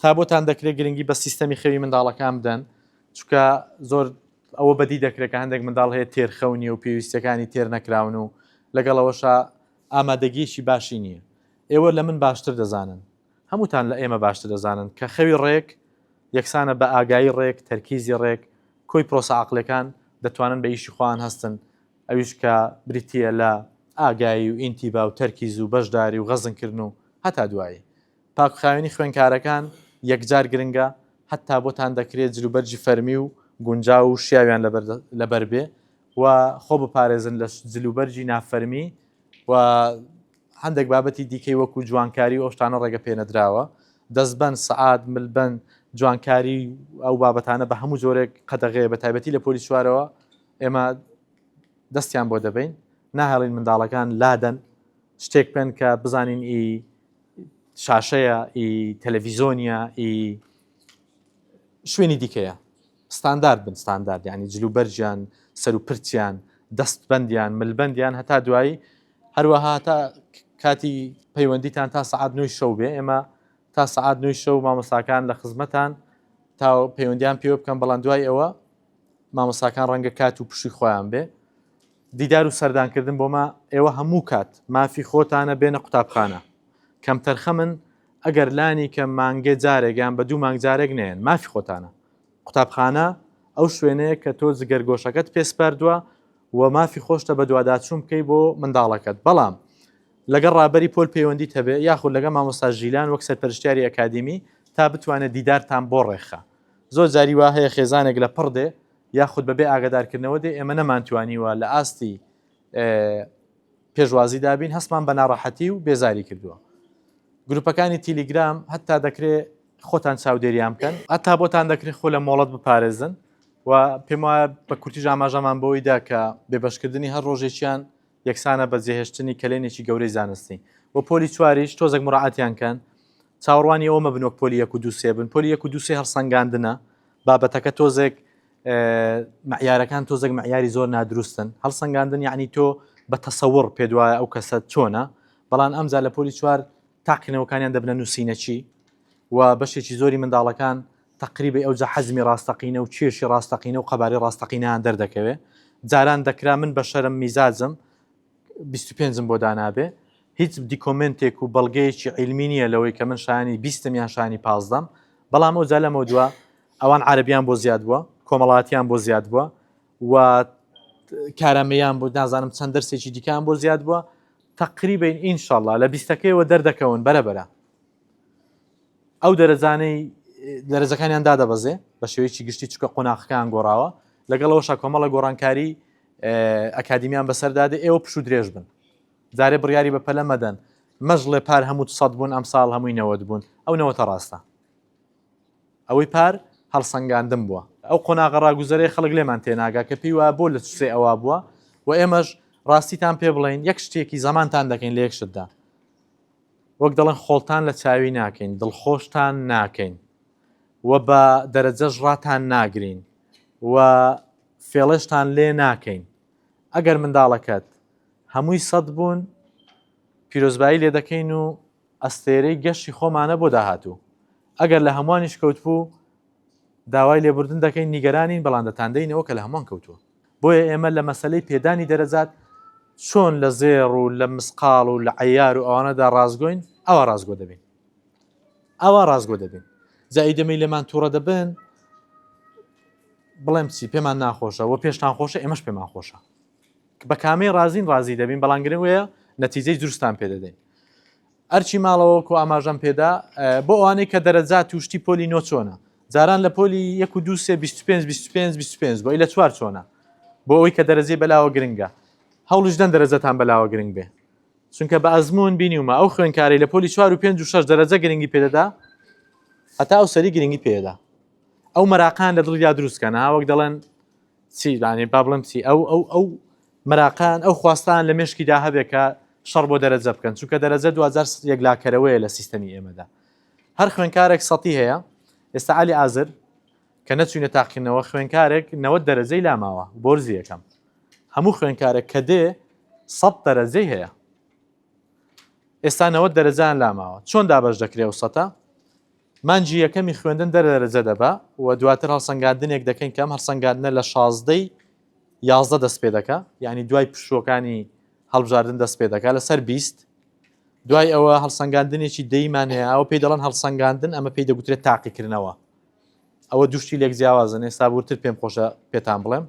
تا بۆتان دەکرێت گرنگی بە سیستەمی خەوی منداڵەکان بدەن چکە زۆر ئەوە بەدی دەکرێت کە هەندێک منداڵ هەیە تێرخەونی و پێویستەکانی تێر نەکراون و لەگەڵەوەشە ئامادەگیەکی باشی نییە ئێوە لە من باشتر دەزانن هەمووتان لە ئێمە باشتر دەزانن کە خەوی ڕێک یەکسانە بە ئاگایی ڕێک، تەرکیزی ڕێک، کۆی پرۆسە عەقڵیەکان دەتوانن بە ئیشی خۆیان هەستن ئەویش کە بریتیە لە ئاگایی و ئینتیبا و تەرکیز و بەشداری و غەزن کردن و هەتا دوایی. پاک و خاوێنی خوێنکارەکان یەکجار گرنگە هەتا بۆتان دەکرێ جل و بەرجی فەرمی و گونجاو و شیاویان لەبەر بێ و خۆ بپارێزن لە جل و بەرجی نافەرمی و هەندێک بابەتی دیکەی وەکو جوانکاری و ئەو شتانە ڕێگە پێنەدراوە، دەستبەند، سەعات، ملبەند، جوانکاری و ئەو بابەتانە بە هەموو جۆرێک قەدەغەیە بە تایبەتی لە پۆلی چوارەوە ئێمە دەستیان بۆ دەبەین ناهێڵین منداڵەکان لادەن شتێک پێن کە بزانین ئی شاشەیە ئی تەلەڤیزۆنیە ئی شوێنی دیکەیە. ستاندارد بن ستاندارد یانی جل و بەرگیان سەر و پرچیان دەست بەندیان مل بەندیان هەتا دوایی هەروەها تا کاتی پەیوەندیتان تا سعات نوی شەو بێ ئێمە تا سعات نوی شەو مامۆساکان لە خزمەتان تا پەیوەندیان پێوە بکەم بەڵام دوای ئەوە مامۆساکان ڕەنگە کات و پشی خۆیان بێ دیدار و سەردانکردن بۆمە ئێوە هەموو کات مافی خۆتانە بێنە قوتابخانە کەم تەرخەمن ئەگەر لانی کەم مانگێ جارێک یان بە دوو مانگ جارێک نەیەن، مافی خۆتانە. قوتابخانە ئەو شوێنەیە کە تۆ جگەرگۆشەکەت پێ سپاردووە و مافی خۆشتە بەدواداچوون بکەی بۆ منداڵەکەت، بەڵام لەگەڵ ڕابەری پۆل پەیوەندیت هەبێ یاخود لەگەڵ مامۆستا ژیلان وەک سەرپەرشتیاری ئەکادیمی تا بتوانێ دیدارتان بۆ ڕێکخا. زۆر جاری وا هەیە خێزانێک لە پڕ دێ یاخود بەبێ ئاگەدارکردنەوە دێ، ئێمە نەمانتوانیوە لە ئاستی پێشوازی دابین هەستمان بە ناڕەحەتی و بێزاری کردووە گروپەکانی تیلیگرام هەتا دەکرێ خۆتان چاودێریان بکەن هەتا بۆتان دەکرێ خۆ لە مۆڵەت بپارێزن و پێم وایە بە کورتیش ئاماژەمان بەوەی دا کە بێبەشکردنی هەر ڕۆژێکیان یەکسانە بە جێهێشتنی کەلێنێکی گەورەی زانستی و پۆلی چواریش تۆزێک مراعاتیان کەن چاوەڕوانی ئەوە مەبن وەک پۆلی یەک و دوو سێ بن، پۆلی یەک و دوو سێ هەڵسەنگاندنە، بابەتەکە تۆزێک مەعیارەکان تۆزێک مەعیاری زۆر نادروستن، هەڵسەنگاندن یعنی تۆ بە تەسەوڕ پێ دوایە ئەو کەسە چۆنە، بەڵام ئەمجا لە پۆلی چوار تاقینەوەکانیان دەبنە نووسینەچی و بەشێکی زۆری منداڵەکان تقریبی ئەوجا حەزمی ڕاستەقینە و کێشی ڕاستەقینە و قەبارەی ڕاستەقینەیان دەردەکەوێ جاران دەکرا من بە شەرم میزاجم بیست و پێنج م بۆ دانابێ هیچ دیکۆمنتێک و بەڵگەیەکی عیلمی نییە لەوەی کە من شانی بیستم یان شانی پازدەم بەڵام ئەو جا لەمە دووە ئەوان عربیان بۆ زیاد بووە کۆمەڵاتیان بۆ زیاد بووە و کارامەیان بۆ نازانم چەند دەرسێکی دیکان بۆ زیاد بووە تقریبین ئینشاءله لە بیستەکەیەوە دەردەکەون بەرەبەرە ئەو دەرەجانەی دەرەجەکانیان دادەبەزێ بە شێوەیەکی گشتی چکە قۆناخەکان گۆڕاوە لەگەڵەوەشە کۆمەڵە گۆڕانکاری ئەکادیمیان بەسەردا دێ ئێوە پشو درێژ بن جارێ بڕیاری بە پەلە مەدەن مەژڵێ پار هەموو سەد بوون ئەم ساڵ هەمووی نەوەت بوون ئەو نەوەتە ڕاستە ئەوەی پار هەڵسەنگاندم بووە ئەو قۆناغە ڕاگوزەرێ خەڵک لێمان تێناگا کە پێی وا بۆ لە سوسێ ئەوە بووە و ئێمەش ڕاستیتان پێ بڵین یەک شتێکی زەمانتان دەکەین لە یەک شتدا وەک دەڵێن خۆڵتان لە چاوی ناکەین دڵخۆشتان ناکەین و بە دەرەجەش ڕاتان ناگرین و فێڵێشتان لێ ناکەین ئەگەر منداڵەکەت هەمووی سەد بوون پیرۆزبایی لێ دەکەین و ئەستێرەی گەشتی خۆمانە بۆ داهاتوو ئەگەر لە هەمووانیش کەوتبوو داوای لێبوردن دەکەین نیگەرانین بەڵام دەتاندەینەوە کە لە هەمووان کەوتووە بۆیە ئێمە لە مەسلەی پێدانی دەرەجات چۆن لە زێڕ و لە مسقاڵ و لە عەیار و ئەوانەدا ڕاستگۆین ئەوا ڕاستگۆ دەبین ئاوا ڕاستگۆ دەبین جا ئیدی ئەمەی لێمان تووڕە دەبن بڵێم چی پێمان ناخۆشە و پێشتان خۆشە ئێمەش پێمان خۆشە بە کامەی ڕازین ڕازی دەبین بەڵام گرنگ وەیە نەتیجەی دروستان پێ دەدەین ئەرچی ماڵەوەکو ئاماژەم پێدا بۆ ئەوانەی کە دەرەجات توشتی پۆلی نۆ چۆنە جاران لە پۆلی 1 و 25 25 25 بۆی لە چوار چۆنە بۆ ئەوی کە دەرەجەی بەلاوە گرنگە هەوڵش دەن دەرەجەتان بەلاوە گرنگ بێ چونکە بە ئەزموون بینیومە ئەو خوێنکاری لە پۆلی چوار و پێنج و شەش دەرەجە گرنگی پێدەدا هەتا ئەو سەری گرنگی پێدا ئەو مەراقان لە دڵیا دروستکەن ها وەک دەڵێن چیدانێ با بڵم چی ئەو ئەو ئەو مەراقان ئەو خواستان لە مشکیدا هەبێت کە شەڕ بۆ دەرەجە بکەن چونکە دەرەجە دوجار یەکلاکەرەوەیە لە سیستەمی ئێمەدا هەر خوێنکارێک سەتی هەیە ئێستا علی ئازر کە نەچوینە تاقیکردنەوە خوێنکارێک نەوەد دەرەجەی لا ماوە بۆرزی یەکەم هەموو خوێنکارێک کە دێ سەد دەرەجەی هەیە ئێستا نەوەد دەرەجان لا ماوە چۆن دابەش دەکرێ و سەتە مانجی یەکەمی خوێندن دەر دەرەجە دەبا و دواتر هەڵسەنگاندنێک دەکەین کەم هەڵسەنگاندنە لە شازدەی یازدە دەست پێ دەکە یعنی دوای پشووەکانی هەڵبژاردن دەست پێ دەکات لەسەر بیست دوای ئەوە هەڵسەنگاندنێکی دەیمان هەیە ئەوە پێی دەڵەن هەڵسەنگاندن ئەمە پێی دەگوترێت تاقیکردنەوە ئەوە دوو شتی لێک جیاوازن ئێستا ورتر پێم خۆشە پێتان بڵێم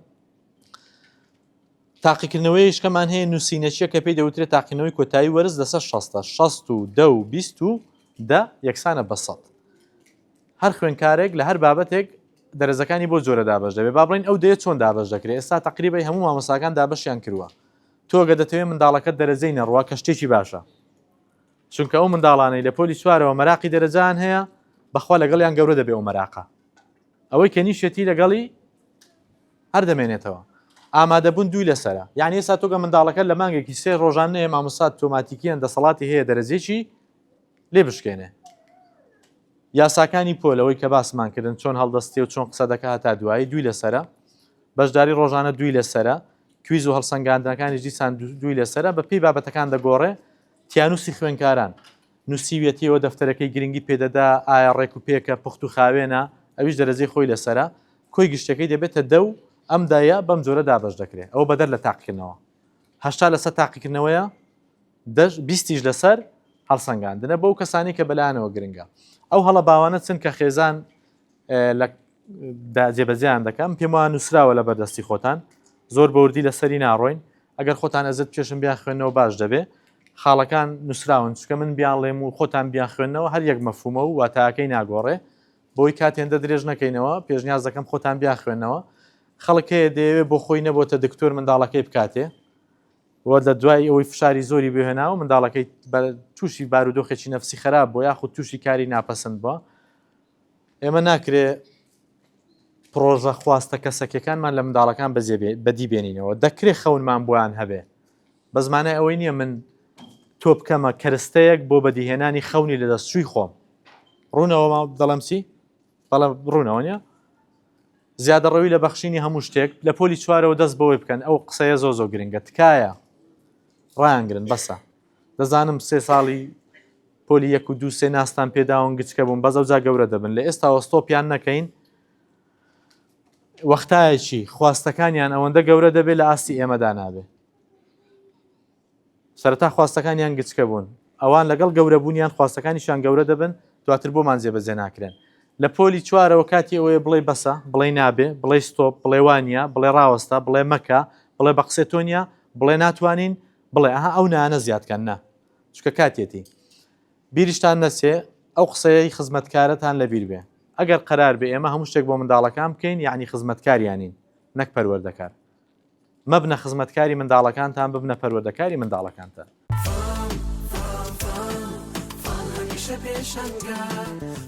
تاقیکردنەوەی شکەمان هەیە نووسینەچیە کە پێی دەوترێت تاقینەوەی کۆتایی وەرز لەسەر 16 16 و دە و بیست و دە یەکسانە بەسەد هەر خوێنکارێک لە هەر بابەتێک دەرزەکانی بۆ جۆرە دابش دەبێ با بڵین ئەو دێ چۆن دابش دەکرێت ئێستا تقریبی هەموو مامەساکان دابشیان کردووە تۆگە دەتەوێت منداڵەکە دەرەجەی نەڕوە کە شتێکی باشە چونکە ئەو منداڵانەی لە پۆلی چوارەوە مەراقی دەرەجەیان هەیە بەخوا لەگەڵیان گەورە دەبێ و مەراقە ئەوەی کە نیشێتی لەگەڵی هەر دەمێنێتەوە ئامادەبوون دووی لەسرە یعنی ئێستا تۆگە منداڵەکە لە مانگێکی سێ ڕۆژان نێ مامۆسات تۆماتیکیان دەسەڵاتی هەیە دەرەجێکی لێ بشکێنێ یاساکانی پۆلەوەی کە باسمان کردن چۆن هەڵدەستی و چۆن قسە دەکە هەتا دوایی دووی لەسرە بەشداری ڕۆژانە دووی لەسرە کویز و هەڵسەنگاندنەکانی دیسان دووی لەسرە بە پێی بابەتەکان دەگۆڕێ تیانووسی خوێندکاران نووسیویەتیەوە، دەفتەرەکەی گرنگی پێدەدا، ئایا ڕێک و پێکە، پوخت و خاوێنە، ئەویش دەرەجەی خۆی لەسەرە، کۆی گشتەکەی دەبێتە دە و ئەم دە یە بەم جۆرە دابەش دەکرێت، ئەوە بەدەر لە تاقیکردنەوە هەشتا لەسەد تاقیکردنەوەیە، دە بیستیش لەسەر هەڵسەنگاندنە، بەو کەسانەی کە بەلایانەوە گرنگە ئەو هەڵە باوانە چن کە خێزان لە دا جێبەجێیان دەکەم، پێم وایە نووسراوە لەبەردەستی خۆتان، زۆر بەوردی لەسەری ناڕۆین. ئەگەر خۆتان ئەزێت بکێشن بیانخوێنەوە باش دەبێ خاڵەکان نووسراون چکە من بیانڵێم و خۆتان بیانخوێنەوە هەر یەک مەفهومە و واتاکەی ناگۆڕێ بۆی کات هێندە درێژ نەکەینەوە پێشنیاز دەکەم خۆتان بیانخوێنەوە خەڵک هەیە دەیەوێ بۆ خۆی نەبۆتە دکتۆر منداڵەکەی بکاتێ وە لە دوای ئەوەی فشاری زۆری بهێناوە منداڵەکەی تووشی بارودۆخێکی نەفسی خراپ بۆ یاخود تووشی کاری ناپەسند بووە ئێمە ناکرێ پڕۆژە خواستە کەسەکیەکانمان لە منداڵەکان بەدی بێنینەوە دەکرێ خەونمان بۆیان هەبێ بە زمانای ئەوەی نییە من تۆ بکەمە کەرستەیەک بۆ بەدیهێنانی خەونی لە دەستچووی خۆم ڕوونەوە ما دەڵم چی بەڵە ڕوونەوە نیە زیادە ڕەوی لە بەخشینی هەموو شتێک لە پۆلی چوارەوە دەست بەوەی بکەن ئەو قسەیە زۆ زۆ گرنگە تکایە ڕایانگرن بەسە دەزانم سێ ساڵی پۆلی یەک و دوو سێ ناستان پێداون گچکە بوون بەزە جا گەورە دەبن لە ئێستا وەستۆپیان نەکەین وەختایەکی خواستەکانیان ئەوەندە گەورە دەبێت لە ئاستی ئێمەدا نابێت سەرتا خواستەکانیان گچکە بوون ئەوان لەگەڵ گەورەبوونیان خواستەکانیشان گەورە دەبن دواتر بۆمان جێبەجێ ناکرێن لە پۆلی چوارەوە کاتی ئەوەیە بڵێ بەسە بڵێ نابێ بڵێ ستۆپ بڵێوانە بڵێ ڕاوەستا بڵێ مەکە بڵێ بە قسێتۆنیا بڵێ ناتوانین بڵێ ئەها ئەو نانە زیاد کەن نا چکە کاتیەتی بیریشتان نەچێ ئەو قسەیەی خزمەتکارەتان لەبیر بێ ئەگەر قەرار بێ ئێمە هەموو شتێک بۆ منداڵەکان بکەین یعنی خزمەتکاریانین نەک پەروەردەکار مەبنە خزمەتکاری منداڵەکانتان ببنە پەروەردەکاری منداڵەکانتان فام فام فام فام هەمیشە پێشەنگە